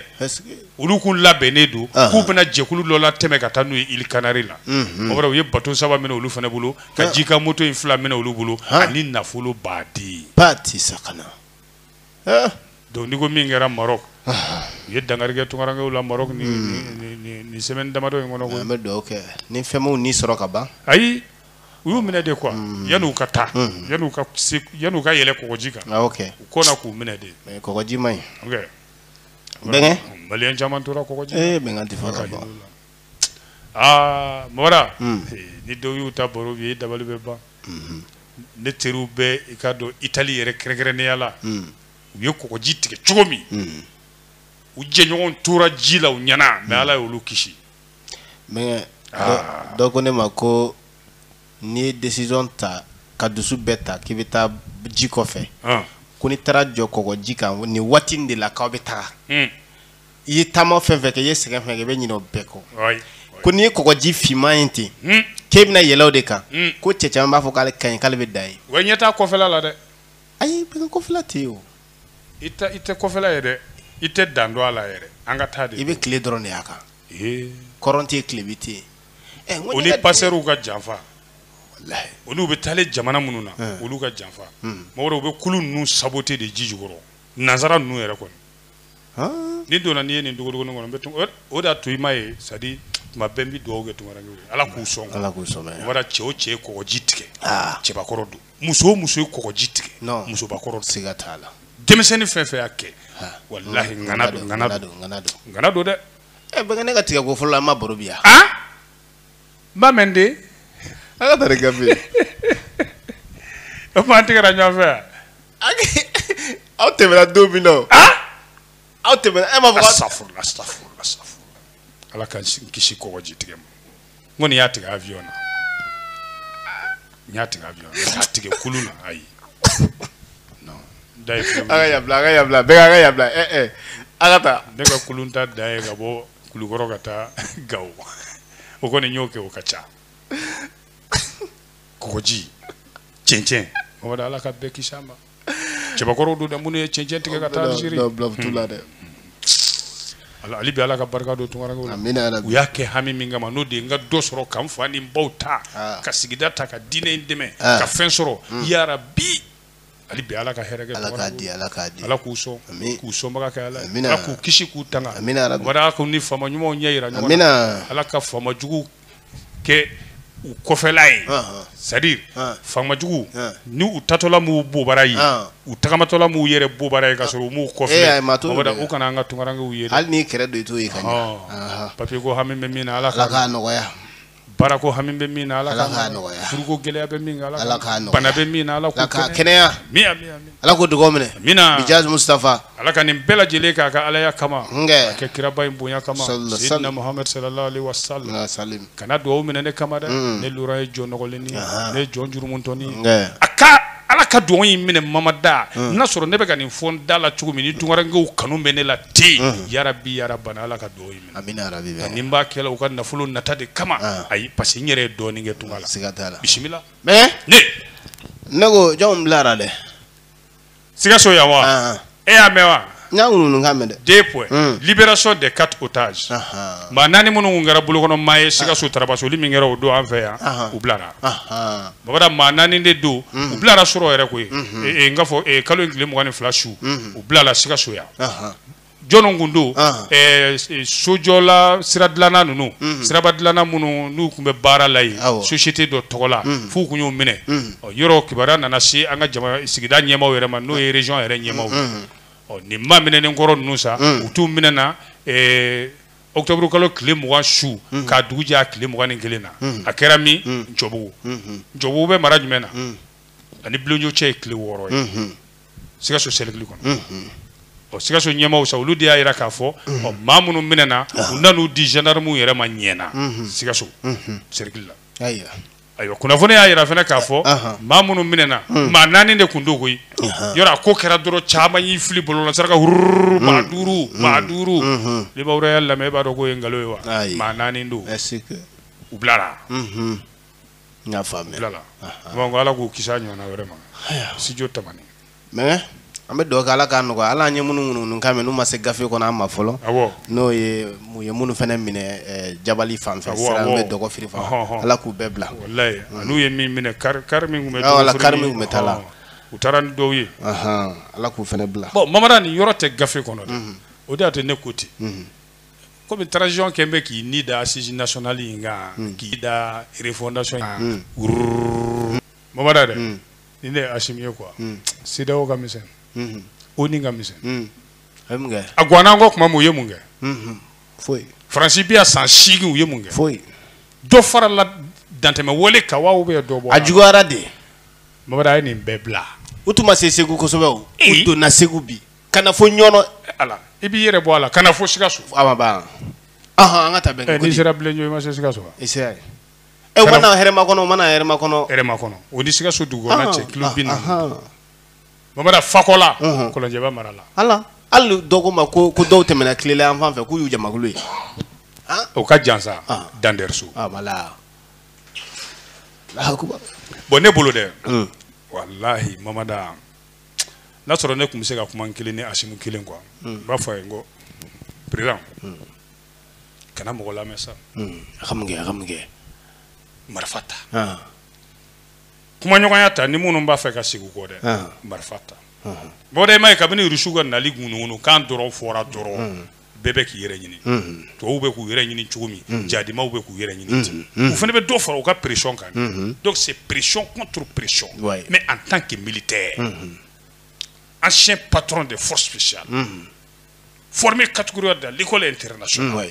olu k'u labɛnnen don k'u bɛna jɛkulu dɔ latɛmɛ ka taa n'u ye Îles Canaries la o kɔrɔ u ye bateau saba minɛ olu fana bolo ka jikan moto in fila minɛ olu bolo ani nafoloba dɛ patisakana donc nin ko min kɛra Maroc u ye dankari kɛ tunkarankew la Maroc ni nin semaine damadɔ in kɔnɔ koyi an bɛ dugawu kɛ ni fɛn m'u ni sɔrɔ ka ban ayi u y'u minɛ de quoi mm. yan'u ka taa mm. yan'u ka yan'u ka yɛlɛ kɔgɔji kan ah, ok u kɔnna k'u minɛ de mais kɔgɔji man ɲi ok bɛnkɛ maliyɛn caman tora kɔgɔji ee eh, bɛnkan tɛ fɔ ka bɔ aa mɔra mm. eh, ni dɔw y'u ta baro bɔ i dabali bɛ ban mm-hmm. ne teriw bɛɛ i k'a dɔn itali yɛrɛ kɛrɛnkɛrɛnnenya la u ye kɔgɔji tigɛ cogo min u jɛɲɔgɔn tora ji la u ɲɛ na mais ala y'olu kisi Ah. dɔw ko ne ma ko n'i ye décision ta ka dusu bɛɛ ta k'i bɛ taa ji kɔfɛ ah. ko n'i taara jɔ kɔgɔji kan nin waati in de la k'aw bɛ taga hmm. i ye taama fɛn fɛn kɛ i ye sɛgɛn fɛn kɛ i bɛ ɲinɛ o bɛɛ kɔ ko n'i ye kɔgɔji finman ye ten hmm. k'e bɛna yɛlɛ o de kan hmm. ko cɛ caman b'a fɔ k'ale ka ɲi k'ale bɛ da ye wa i ɲɛ t'a kɔfɛla la dɛ ayi bɛɛ kɔfɛla tɛ yen o i tɛ kɔfɛla ye dɛ i tɛ dan dɔn a la yɛrɛ an ka taa de i bɛ tile dɔrɔn de y'a kan kɔrɔn tɛ yen tilebin tɛ yen Eh, n ko o ne ni ka di- pasɛriw ka janfa Walahi. olu bɛ taale jamana minnu na Eh. olu ka janfa Hmm. mɔgɔ dɔw bɛ kulu ninnu sabote de ji jukɔrɔ nansara ninnu yɛrɛ kɔni Han. ni donna n'i ye nin dogodogonin kɔnɔ n bɛ tun- o- o de y'a to i m'a ye c'est-à-dire tuma bɛɛ n bɛ dugawu kɛ tunkarankɛ ala k'u sɔn ala k'u sɔnna o bɔra cɛ o cɛ ye kɔgɔji tigɛ Ah. cɛbakɔrɔ don muso o muso ye kɔgɔji tigɛ musobakɔrɔ siga t'a la denmisɛnnin fɛn fɛn y'a kɛ walahi ŋana don ŋana don ŋana don ŋana don dɛ ɛ bɛnkɛ ne ka tigɛ ko fɔlɔ la an ma baro bi yan an b'a mɛn de an ka tari gafe o tuma an tigɛra ɲɔgɔn fɛ yan aw tɛmɛna don min na o aw tɛmɛna e m'a fɔ asafurula asafurula asafurula ala k'an kisi kɔgɔji tigɛ ma n kɔni y'a tigɛ avion na n y'a tigɛ avion na k'a tigɛ kulu na ayi non da ye fɛn a ka yabila a ka yabila bɛɛ k'a ka yabila ɛ ɛ a ka taa ne ka kulun ta dan ye ka bɔ kulukɔrɔ ka taa gawo o kɔni n y'o kɛ o ka ca kɔgɔji cɛncɛn mɔgɔ ala ka bɛɛ kisi a ma cɛbakɔrɔw don dɛ minnu ye cɛncɛn tigɛ ka taa Algérie Bila- bila- bila t'u la dɛ. Ala- hali bi ala ka barika don tunkarankew la Amina yarabi. u y'a kɛ hami min kama n'o de ye n ka dɔ sɔrɔ ka n fa ni n baw ta Ah. ka sigida ta ka diinɛ in dɛmɛ Ah. ka fɛn sɔrɔ Mm. yarabi hali bi ala ka hɛrɛ kɛ Ala ka tunkarankew di, la. Ala k'a di. ala k'u sɔn Amin. k'u sɔnbaga kɛ ala ye. Amina. ala k'u kisi k'u tanga Amina yarabi. ala k'u ni faama ɲumanw ɲɛ yira ɲɔgɔn Amina. na ala ka faama juguw kɛ u kɔfɛla ye c'est-à-dire faama jugu ni u taatɔla m'u bobara ye u tagamatɔla m'u yɛrɛ bobara ye ka sɔrɔ u m'u kɔ filɛ u kana an ka tunkarankew ye hali n'i kɛrɛ don i t'o ye ka ɲɛ papiye ko hami bɛ min na ala k'a nɔgɔya baara ko hami bɛ min na ala k'a nɔgɔya furuko gɛlɛya bɛ min na ala k'a nɔgɔya bana bɛ min na ala k'a kɛnɛya ala k'o dugaw minɛ amina bijahi mustafa ala ka nin bɛɛ lajɛlen k'a ka alaya kama k'a kɛ kiraba in bonya kama sayyidina muhammad sallallahu alaihi wasallam kana dugaw minɛ ne kama dɛ mm. ne lura ye jɔn nɔgɔlennin ne ye jɔn jurumuntɔnin nka ala ka dugaw in minɛ mamada mm. n'a sɔrɔ ne bɛ ka nin fɔ n da la cogo min ni tunkarankew kanu bɛ ne la ten mm. yarabi yarabana ala ka dugaw in minɛ amina yarabi ani n b'a kɛla u ka nafolo nata de kama ayi parce que n yɛrɛ ye dɔɔnin kɛ tunga la bisimila Mais ne ne ko jɔnw bilara de sikaso yan wa ah. e y'a mɛn wa n y'a ŋununu k'a mɛn dɛ deux points hmm. libération des quatre otages maa naani minnu tun kɛra bolokɔnɔ maa ye sikaso ah. tarabasoli min kɛra o don an fɛ yan u bilara babada maa naani de don hmm. u bilara surɔ yɛrɛ koyi hmm. e, e, n k'a fɔ e, kalo in tile mugan ni fila su u bilala sikaso yan jɔnw kun don ah. eh, eh, sojɔla sira dilanna ninnu mhm. siraba dilanna minnu n'u tun bɛ baara la yen société dɔ tɔgɔ la mhm. f'u kun y'u minɛ mhm. yɔrɔ kibaruya nana se an ka jama sigida ɲɛmaaw yɛrɛ ma n'o ye région yɛrɛ ɲɛmaaw ye nin maa minɛnen kɔrɔ ninnu sa u tun minɛna eh, octobre kalo tile mugan su k'a dugu jɛ a tile mugan ni kelen na a kɛra min ncɔbugu ncɔbugu bɛ mara jumɛn na a ni bilenjo cɛ ye kilo wɔɔrɔ ye sikaso sɛrikili kɔnɔ mhm. ɔ sikaso ɲɛmaaw sa olu de y'a yira k'a fɔ mhm. ɔ maa minnu minɛna ah. u nan'u di gendarmew yɛrɛ ma ɲɛna mhm. sikaso sɛrikili la ayiwa kunnafoni y'a yira fana k'a fɔ ah. maa minnu minɛna hmm. maa naani de tun don koyi ah. yɔrɔ a ko kɛra dɔrɔn caman y'i fili bɔlɔlɔ sira kan hururu hmm. maa duuru hmm. maa duuru libawura y'a lamɛn e b'a dɔn k'o ye nkalon ye wa maa naani don u bilara n y'a faamuya bilala bon ko ala k'u kisi a ɲɔgɔnna wɛrɛ ma studio tamani mɛ an bɛ dugawu kɛ ala k'a nɔgɔya ala an ye minnu minnu kan mɛn n'u ma se gafe kɔnɔ an ma fɔlɔ n'o ye mun ye minnu fana minɛ eh, jabali fan fɛ sira bɛ dɔgɔfiri fan ala k'u bɛɛ bila mm. n'u ye min minɛ kari kari min tun bɛ kari min tun bɛ taa la u taara ni dɔw ye ala k'u fana bila bɔn mamada nin yɔrɔ tɛ gafe kɔnɔ dɛ mm-hmm. o de y'a to ne ko ten mm-hmm. kɔmi transition kɛlen bɛ k'i ni da assises nationales in kan hmm. k'i da refondation kan hmm. wururu mamada dɛ hmm. ni ne ye asimi ye quoi CEDEAO ka misɛn ONU ka misɛn a gwanna an kɔ tuma min u ye mun kɛ foyi faransi bi yan san seegin u ye mun kɛ foyi dɔ farala dantɛmɛwale kan wa ou bien dɔ bɔ a juguyara dɛ mamada a ye nin bɛɛ bila u tun ma se segu kosɛbɛ o u donna segu bi ka na fo ɲɔnɔ ala i b'i yɛrɛ bɔ a la ka na fo sikaso awa ba ahan an ka taa bɛn eh, n'i sera bilenjo i ma se sikaso wa i sera yen ɛ eh, u ma na hɛrɛmakɔnɔ u ma na hɛrɛmakɔnɔ hɛrɛmakɔnɔ o ni sikaso dugukɔnɔna cɛ kilo bi naani bamada fakɔla kɔlɔnjɛba mara la ala hali dɔ ko ma ko ko dɔw tɛmɛna kilela yan fan fɛ k'u y'u jamakulu ye o ka jan sa dandɛrɛso bɔn ne bolo dɛ walahi mamada n'a sɔrɔ ne tun bɛ se ka kuma kelen ni asimi kelen quoi n b'a fɔ a ye n ko par exemple kana mɔgɔ lamɛn sa marifa ta kumaɲɔgɔnya ta ni minnu b'a fɛ ka segin kɔ dɛ marifa ta bɔn i m'a ye kabini rusi ka nali ŋununukan dɔrɔn fɔra dɔrɔn bɛɛ bɛ k'i yɛrɛ ɲini tubabuw bɛ k'u yɛrɛ ɲini cogo min jadimaw bɛ k'u yɛrɛ ɲini ten u fana bɛ dɔ fara u ka pression kan donc c'est pression contre pression mais en tant que militaire ancien patron des forces spéciales formé catégorie de l'école internationale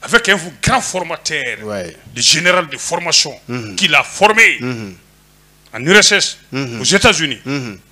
avec un grand formateur le général de formation qui l'a formé en URSS aux États-Unis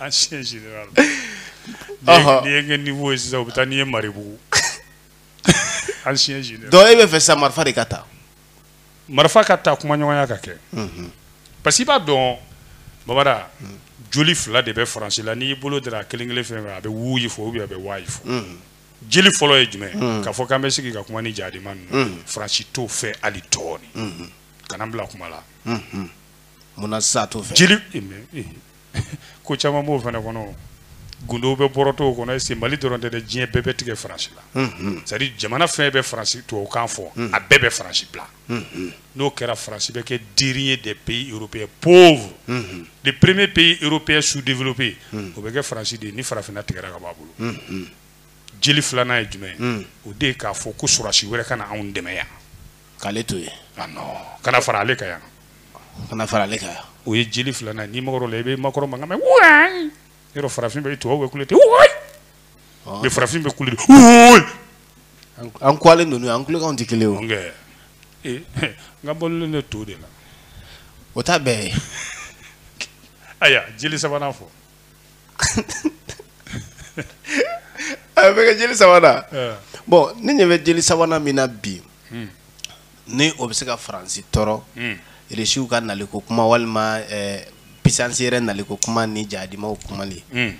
ancien général ɔhɔ n'i ye n kɛ niveau ye sisan u bɛ taa n'i ye maribugu ancien général donc e bɛ fɛ sisan marifa de ka ta marifa ka ta kumaɲɔgɔnya ka kɛ mhm. parce que i b'a dɔn babada mhm. joli fila de bɛ faransi la n'i bolo dara kelen kelen fɛn fɛn a bɛ wuyi fɔ ou bien a bɛ wayi fɔ mhm. jeli fɔlɔ ye jumɛn k'a fɔ k'an bɛ sigi ka kuma ni jadima ninnu faransi t'o fɛ hali dɔɔni kana n bila kuma la munna sisan a t'o fɛ jeli ko caman b'o fana kɔnɔ gundow bɛ bɔrɔtɔ o kɔnɔ parce que mali dɔrɔn tɛ dɛ diɲɛ bɛɛ bɛ tigɛ faransi la mhm. c'est à dire jamana fɛn bɛ faransi tubabukan fɔ mhm. a bɛɛ bɛ faransi bila mhm. n'o kɛra faransi bɛ kɛ dernier des pays européens pauvres les premiers pays européens sous-développés o bɛ kɛ faransi de ye ni farafinna tigɛra ka b'a bolo jeli filanan ye jumɛn o de ye k'a fɔ ko sɔrɔdasi wɛrɛ kana anw dɛmɛ yan k'ale to yen ah non kana fara ale kan yan kana fara ale kan yan o ye jeli filanan n'i magara o la i bɛ Macron mankan mɛn wayi yɔrɔ farafin bɛ tubabu bɛ kule ten wayi mais farafin bɛ kule ten wayi an kuwalen ninnu an kulekanw tɛ kelen o n ka balolen bɛ to de la o t'a bɛɛ ye ayiwa jeli sabanan fɔ a bɛ kɛ jeli sabanan eh. bon ne ɲɛ bɛ jeli sabanan min na bi hmm. ni o bɛ se ka faransi tɔɔrɔ hmm. irisiw ka naliko kuma walima eh, puissance wɛrɛ naliko kuma ni jadimaw kumali hmm.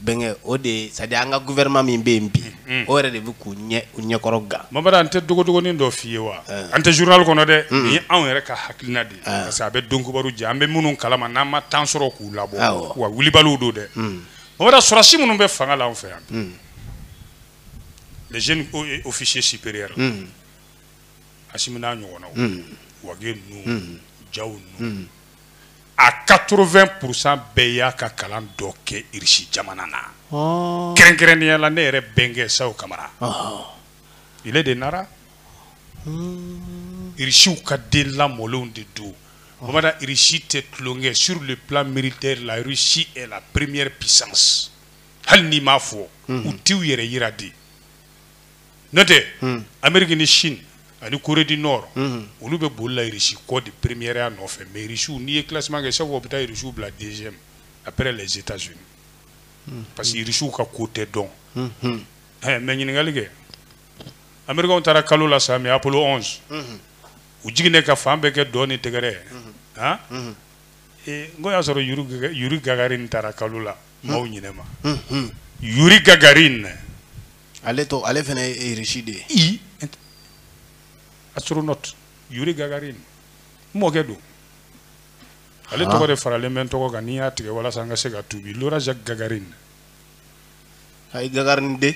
bɛnkɛ o de ye c'est à dire an ka gouvernement min bɛ yen bi o yɛrɛ de bɛ k'u ɲɛ u ɲɛkɔrɔ gan mamadu n tɛ dogodogonin dɔ f'i ye wa eh. an tɛ journal kɔnɔ dɛ nin ye anw yɛrɛ ka hakilina de parce que aw b'a dɔn kibaru jɛ an bɛ minnu kalama n'an ma temps sɔrɔ k'u labɔ Awɔ. wa wilibaliw don dɛ mamadu sɔrɔdasi minnu bɛ fanga la an fɛ yan les jeunes o- et officiers supérieurs asimi n'a ɲɔgɔnnaw wage ninnu jaw ninnu a 80 pourcent bɛɛ y'a ka kalan dɔ kɛ irisi jamana na ɔ kɛrɛnkɛrɛnnenya la ne yɛrɛ bɛnkɛ sajo kamara ɔhɔ. ile de nara irisiw ka den lamɔlenw de don bamada irisi tɛ tulonkɛ sur le plan militaire la russie est la première puissance hali n'i m'a fɔ u t'u yɛrɛ yira de n'o tɛ amerique ni chine ani corée du nord olu bɛ boli la irisi kɔ de première ya nɔfɛ mais irisiw n'i ye classement kɛ chaque fois u bɛ taa irisiw bila deuxième après les états unis parce que irisiw ka ko tɛ dɔn mais ɲininkali kɛ Americains taara kalo la sa mais Apollo 11 unhun u jiginnen ka fan bɛɛ kɛ dɔn ni tɛgɛrɛ ye unhun han unhun ee n k'o y'a sɔrɔ Yuri Gɛgɛ Yuri Gagarin taara kalo la maaw ɲinɛ ma unhun Yuri Gagarin ale tɔg ale fɛnɛ ye e Russie de ye i int astronaute Yuri Gagarin n mɔkɛ don ale haan tɔgɔ de faralen bɛ n tɔgɔ kan ni n y'a tigɛ walasa n ka se ka tuubi Laura Jacques Gagarin ayi Gagarin den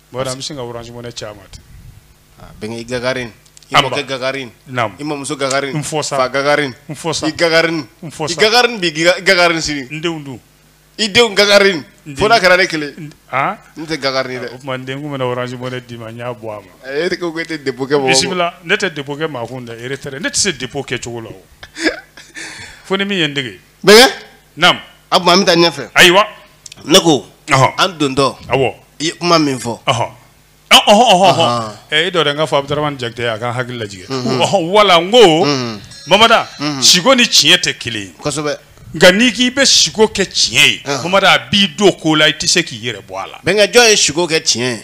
Bon an bɛ sin ka orange money ci a ma ten, aa bɛnkɛ i Gagarin, i mɔkɛ Gagarin, naamu, i mamuso Gagarin, n fɔ sa, fa Gagarin, n fɔ sa, i Gagarin, n fɔ sa, i Gagarin bi i Gagarin sini, n denw dun? i denw Gagarin fo n'a kɛra ne kelen ye, an, ne tɛ Gagarin ye dɛ, o tuma n den n tun bɛna orange money d'i ma n y'a bɔ a ma, e ko e tɛ dépôt kɛ mɔgɔ kun, bisimila, ne tɛ dépôt kɛ maa kun dɛ, retrait, ne tɛ se dépôt kɛcogo la o, fo ni min ye n dege bɛnkɛ naamu o tuma an bɛ taa ɲɛfɛ ayiwa ne ko ɔhɔ an dontɔ awɔ i ye kuma min fɔ ɔhɔ ɔ- ɔhɔ ɔhɔ ɔhɔ Ahan. ɛ i dɔ dɛ n ka fɔ abudurahmani jakite a ka n hakili lajigin ɔhɔ wala n ko mamada siko ni tiɲɛ tɛ kelen ye kosɛbɛ nka n'i k'i bɛ siko kɛ tiɲɛ ye Ahan. mamada a b'i don ko la i tɛ se k'i yɛrɛ bɔ a la bɛnkɛ jɔn ye siko kɛ tiɲɛ ye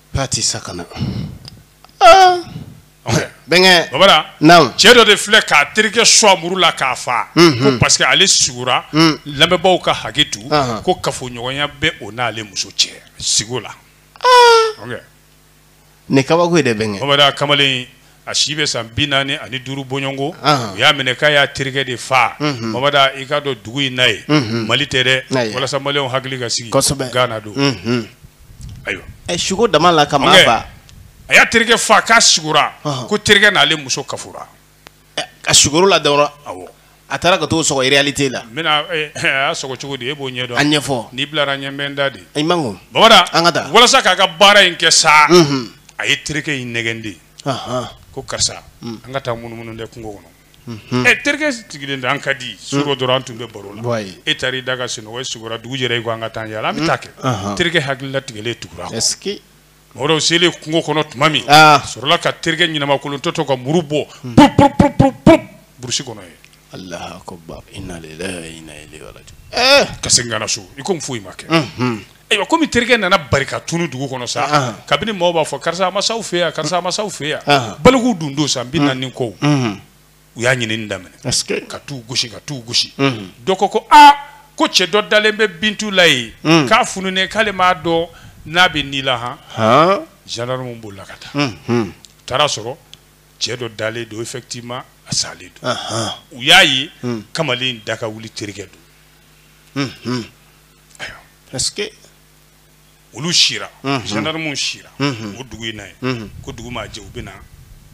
A tɛ se ka na. Aa! Ɔkɛ. Bɛnkɛ! Bamada, naamu, cɛ dɔ de filɛ k'a terikɛ sɔgɔ muru la k'a faa. Unhun! Ko parce que ale sugora. Un! Lamɛnbaaw ka hakɛ to. Ɔnhɔn! Ko kafoɲɔgɔnya bɛ o n'ale muso cɛ siko la. Aa! Ɔkɛ. Nin ye kabako ye dɛ bɛnkɛ! Bamada kamalen a si bɛ san bi naani ani duuru bɔ ɲɔgɔn ko ah. u y'a minɛ k'a y'a terikɛ de faa mhm. mamada i k'a dɔn dugu in na ye mhm. mali tɛ dɛ walasa maliyɛnw hakili ka sigi gana don mhm. ayiwa eh, sugo dama la ka maa faa a y'a terikɛ faa k'a sugora ko terikɛ n'ale muso kafora eh, a sugora a la dɔrɔn awɔ A taara ka t'o sɔgɔ réalité la. N bɛna e a y'a sɔgɔ cogo di e b'o ɲɛdɔn. A ɲɛfɔ. N'i bilara n ɲɛ n bɛ n da de. I man kun. Bamada. An ka taa. Walasa k'a ka baara in kɛ sa. Unhun. A ye terikɛ in nɛgɛn de. Ɔnhɔn. Ko karisa. Un. An ka taa munumunu dɛ kungo kɔnɔ. Unhun. Ɛ terikɛ sigilen don an ka di. Surɔ dɔrɔn an tun bɛ baro la. Wayi. E taara i da ka sunɔgɔ e sugora dugu jɛra i ko an ka taa an yaala an bɛ taa kɛ. Ɔnhɔn. Terikɛ hakili latigɛlen tugura a kɔ. Est ce que. Mɔgɔw selen kungo kɔnɔ tuma min sɔrɔla ka terikɛ ɲɛnamakolonto to ka muru bɔ burusi kɔnɔ ka segin so i ko foyi ma kɛ ayiwa kɔmi terikɛ nana bari ka tunun dugu kɔnɔ sa kabini maaw b'a fɔ karisa ma se aw fɛ yan karisa ma se aw fɛ yan baliku dun don san bi naani ko u y'a ɲinin daminɛ ka t'u gosi ka t'u gosi dɔ ko ko aa ko cɛ dɔ dalen bɛ bintu la yen k'a fununen k'ale m'a dɔn n'a bɛ ni la han zandarmu bɔla ka taa u taara a sɔrɔ cɛ dɔ dalen don effectivement a salen don u y'a ye kamalen da ka wuli terikɛ don ayiwa parce que olu sira zandarmu sira o dugu in na yen ko dugu maa jɛ u bɛ na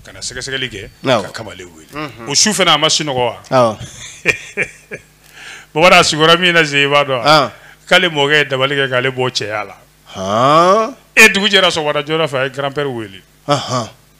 ka na sɛgɛsɛgɛli kɛ ka kamalen wele o su fana a ma sunɔgɔ wa bamanan a sugora min na se i b'a dɔn k'ale mɔkɛ ye dabali kɛ k'ale bɔ cɛya la e dugu jɛra sɔgɔmada joona fɛ a ye grand-père wele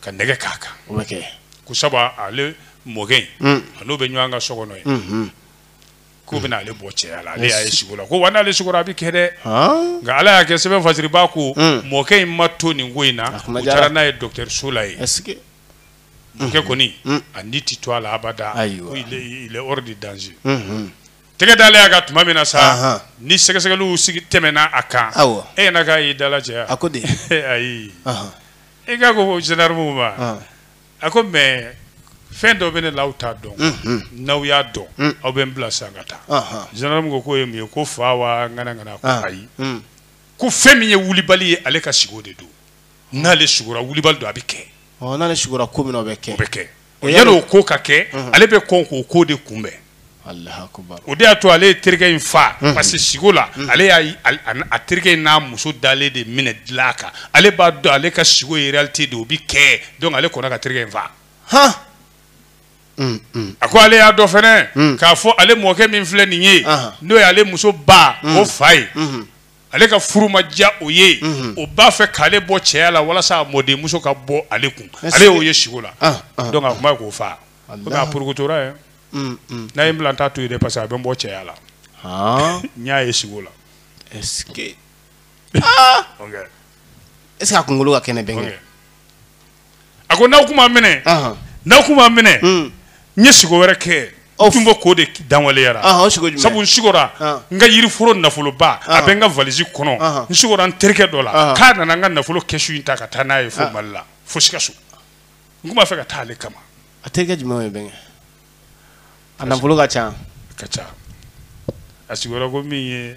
ka nɛgɛ k'a kan o bɛ kɛ ko sabu ale mɔkɛ in mm. a n'o bɛ ɲɔgɔn kan so kɔnɔ yen mm-hmm. k'u mm. bɛna ale bɔ cɛya la ale y'a ye sugo la ko wa n'ale sugora a bɛ kɛ dɛ nka ala y'a kɛ sɛbɛn fasiribaa ko mm. mɔkɛ in ma to nin ko in na u taara n'a ye dɔgɔtɔrɔso la yen mɔkɛ kɔni a ni tɛ to a la abada ko il est hors de danger mm-hmm. tɛgɛ dalen a kan tuma min na sa ni sɛgɛsɛgɛliw sigi tɛmɛna a kan e yɛrɛ k'a y'i dala cɛya a ko de ayi nka a ko zandarmukɛ ma ah. a ko mɛ fɛn dɔ bɛ ne la aw t'a dɔn mm-hmm. n'aw y'a dɔn mm. aw bɛ n bila sisan n ka taa zandarmu ko k'o ye mun ye ko fa wa ŋana ŋana ko ah. ayi mm. ko fɛn min ye wulibali ye ale ka siko de don n'ale sugora wulibali don a bɛ kɛ n'ale sugora ko min o bɛ kɛ o bɛ kɛ Yanni o ko ka kɛ ale bɛ kɔn k'o ko de kunbɛn o de y'a to ale ye terikɛ in faa parce que siko la ale y'a terikɛ in n'a muso dalen de minɛ dilan kan ale b'a dɔn ale ka siko ye réalité de o bɛ kɛ donc ale kɔnna ka terikɛ in faa a ko ale y'a dɔn fana k'a fɔ ale mɔkɛ min filɛ nin ye n'o ye ale muso ba o fa ye ale ka furu ma diya o ye mhm. o b'a fɛ k'ale bɔ cɛya la walasa a mɔdenmuso ka bɔ ale kun ale y'o ye siko la ah, ah, ah. donc a tun b'a fɛ k'o faga komi a porokotora yɛ mm, mm. n'a ye n bila n t'a to yen dɛ parce que a bɛ n bɔ cɛya la n y'a ye siko la est ce que est ce que a kunkolo ka kɛnɛ bɛnkɛ a ko n'aw tun ma n minɛ n'aw tun ma n minɛ hmm. n ye siko wɛrɛ kɛ tun ko k'o de lawaleya sabu n sigora n ka yiriforo nafoloba a bɛ n ka valisi kɔnɔ n sigora n terikɛ dɔ la k'a nana n ka nafolo kɛsu in ta ka taa n'a ye fo mali la fo sikaso n tun b'a fɛ ka taa ale kama a terikɛ jumɛn ye bɛnkɛ a nafolo ka ca ka ca a sigora ko min ye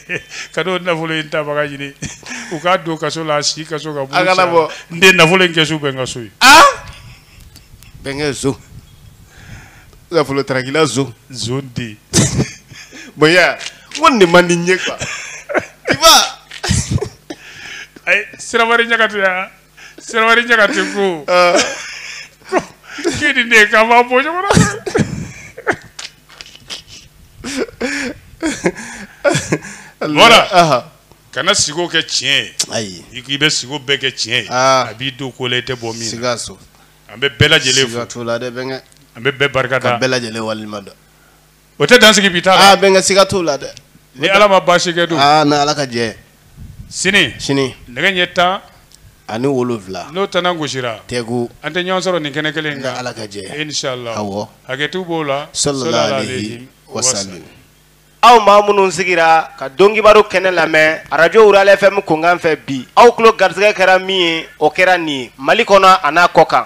ka ne nafolo in tabaga ɲini u k'a don kaso la a sikaso ka a kana bɔ n den nafolo in kɛsu bɛ n ka so yen bɛnkɛ zo nafolo tarakila zo zo den bɔn ya ko nin de man di n ye quoi tu vois ayi sirabari ɲagate ya Sirabali Ɲagate ko. Aa. Ko k'e ni ne k'an b'a bɔ ɲɔgɔn na. Voilà. Ahan. Kana sigo kɛ tiɲɛ ye. Ayi. I k'i bɛ sigo bɛɛ kɛ tiɲɛ ye. Aa. A b'i don ko la i tɛ bɔ min na. Sikaso. An bɛ bɛɛ lajɛlen fo. Siga t'o la dɛ bɛnkɛ. An bɛ bɛɛ barika da. Ka bɛɛ lajɛlen waleɲuman dɔn. o tɛ dan sigi bi ta la aa bɛnkɛ siga t'o la dɛ ni ala ma baasi kɛ dun aa ni ala ka jɛ sini sini nɛgɛ ɲɛ tan ani wolonwula n'o tana gosira tɛgu an bɛ ɲɔgɔn sɔrɔ nin kɛnɛ kelen kan ala ka jɛ inshallah awɔ hakɛto b'o la sallallahu alayhi wa sallam aw maa minnu sigira ka dɔnkibaro kɛnɛ lamɛn arajo rurale fm kunkan fɛ bi aw tulo garisɛgɛ kɛra min ye o kɛra nin ye mali kɔnɔ an'a kɔkan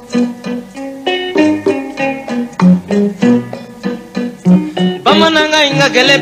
bamanankan in ka gɛlɛn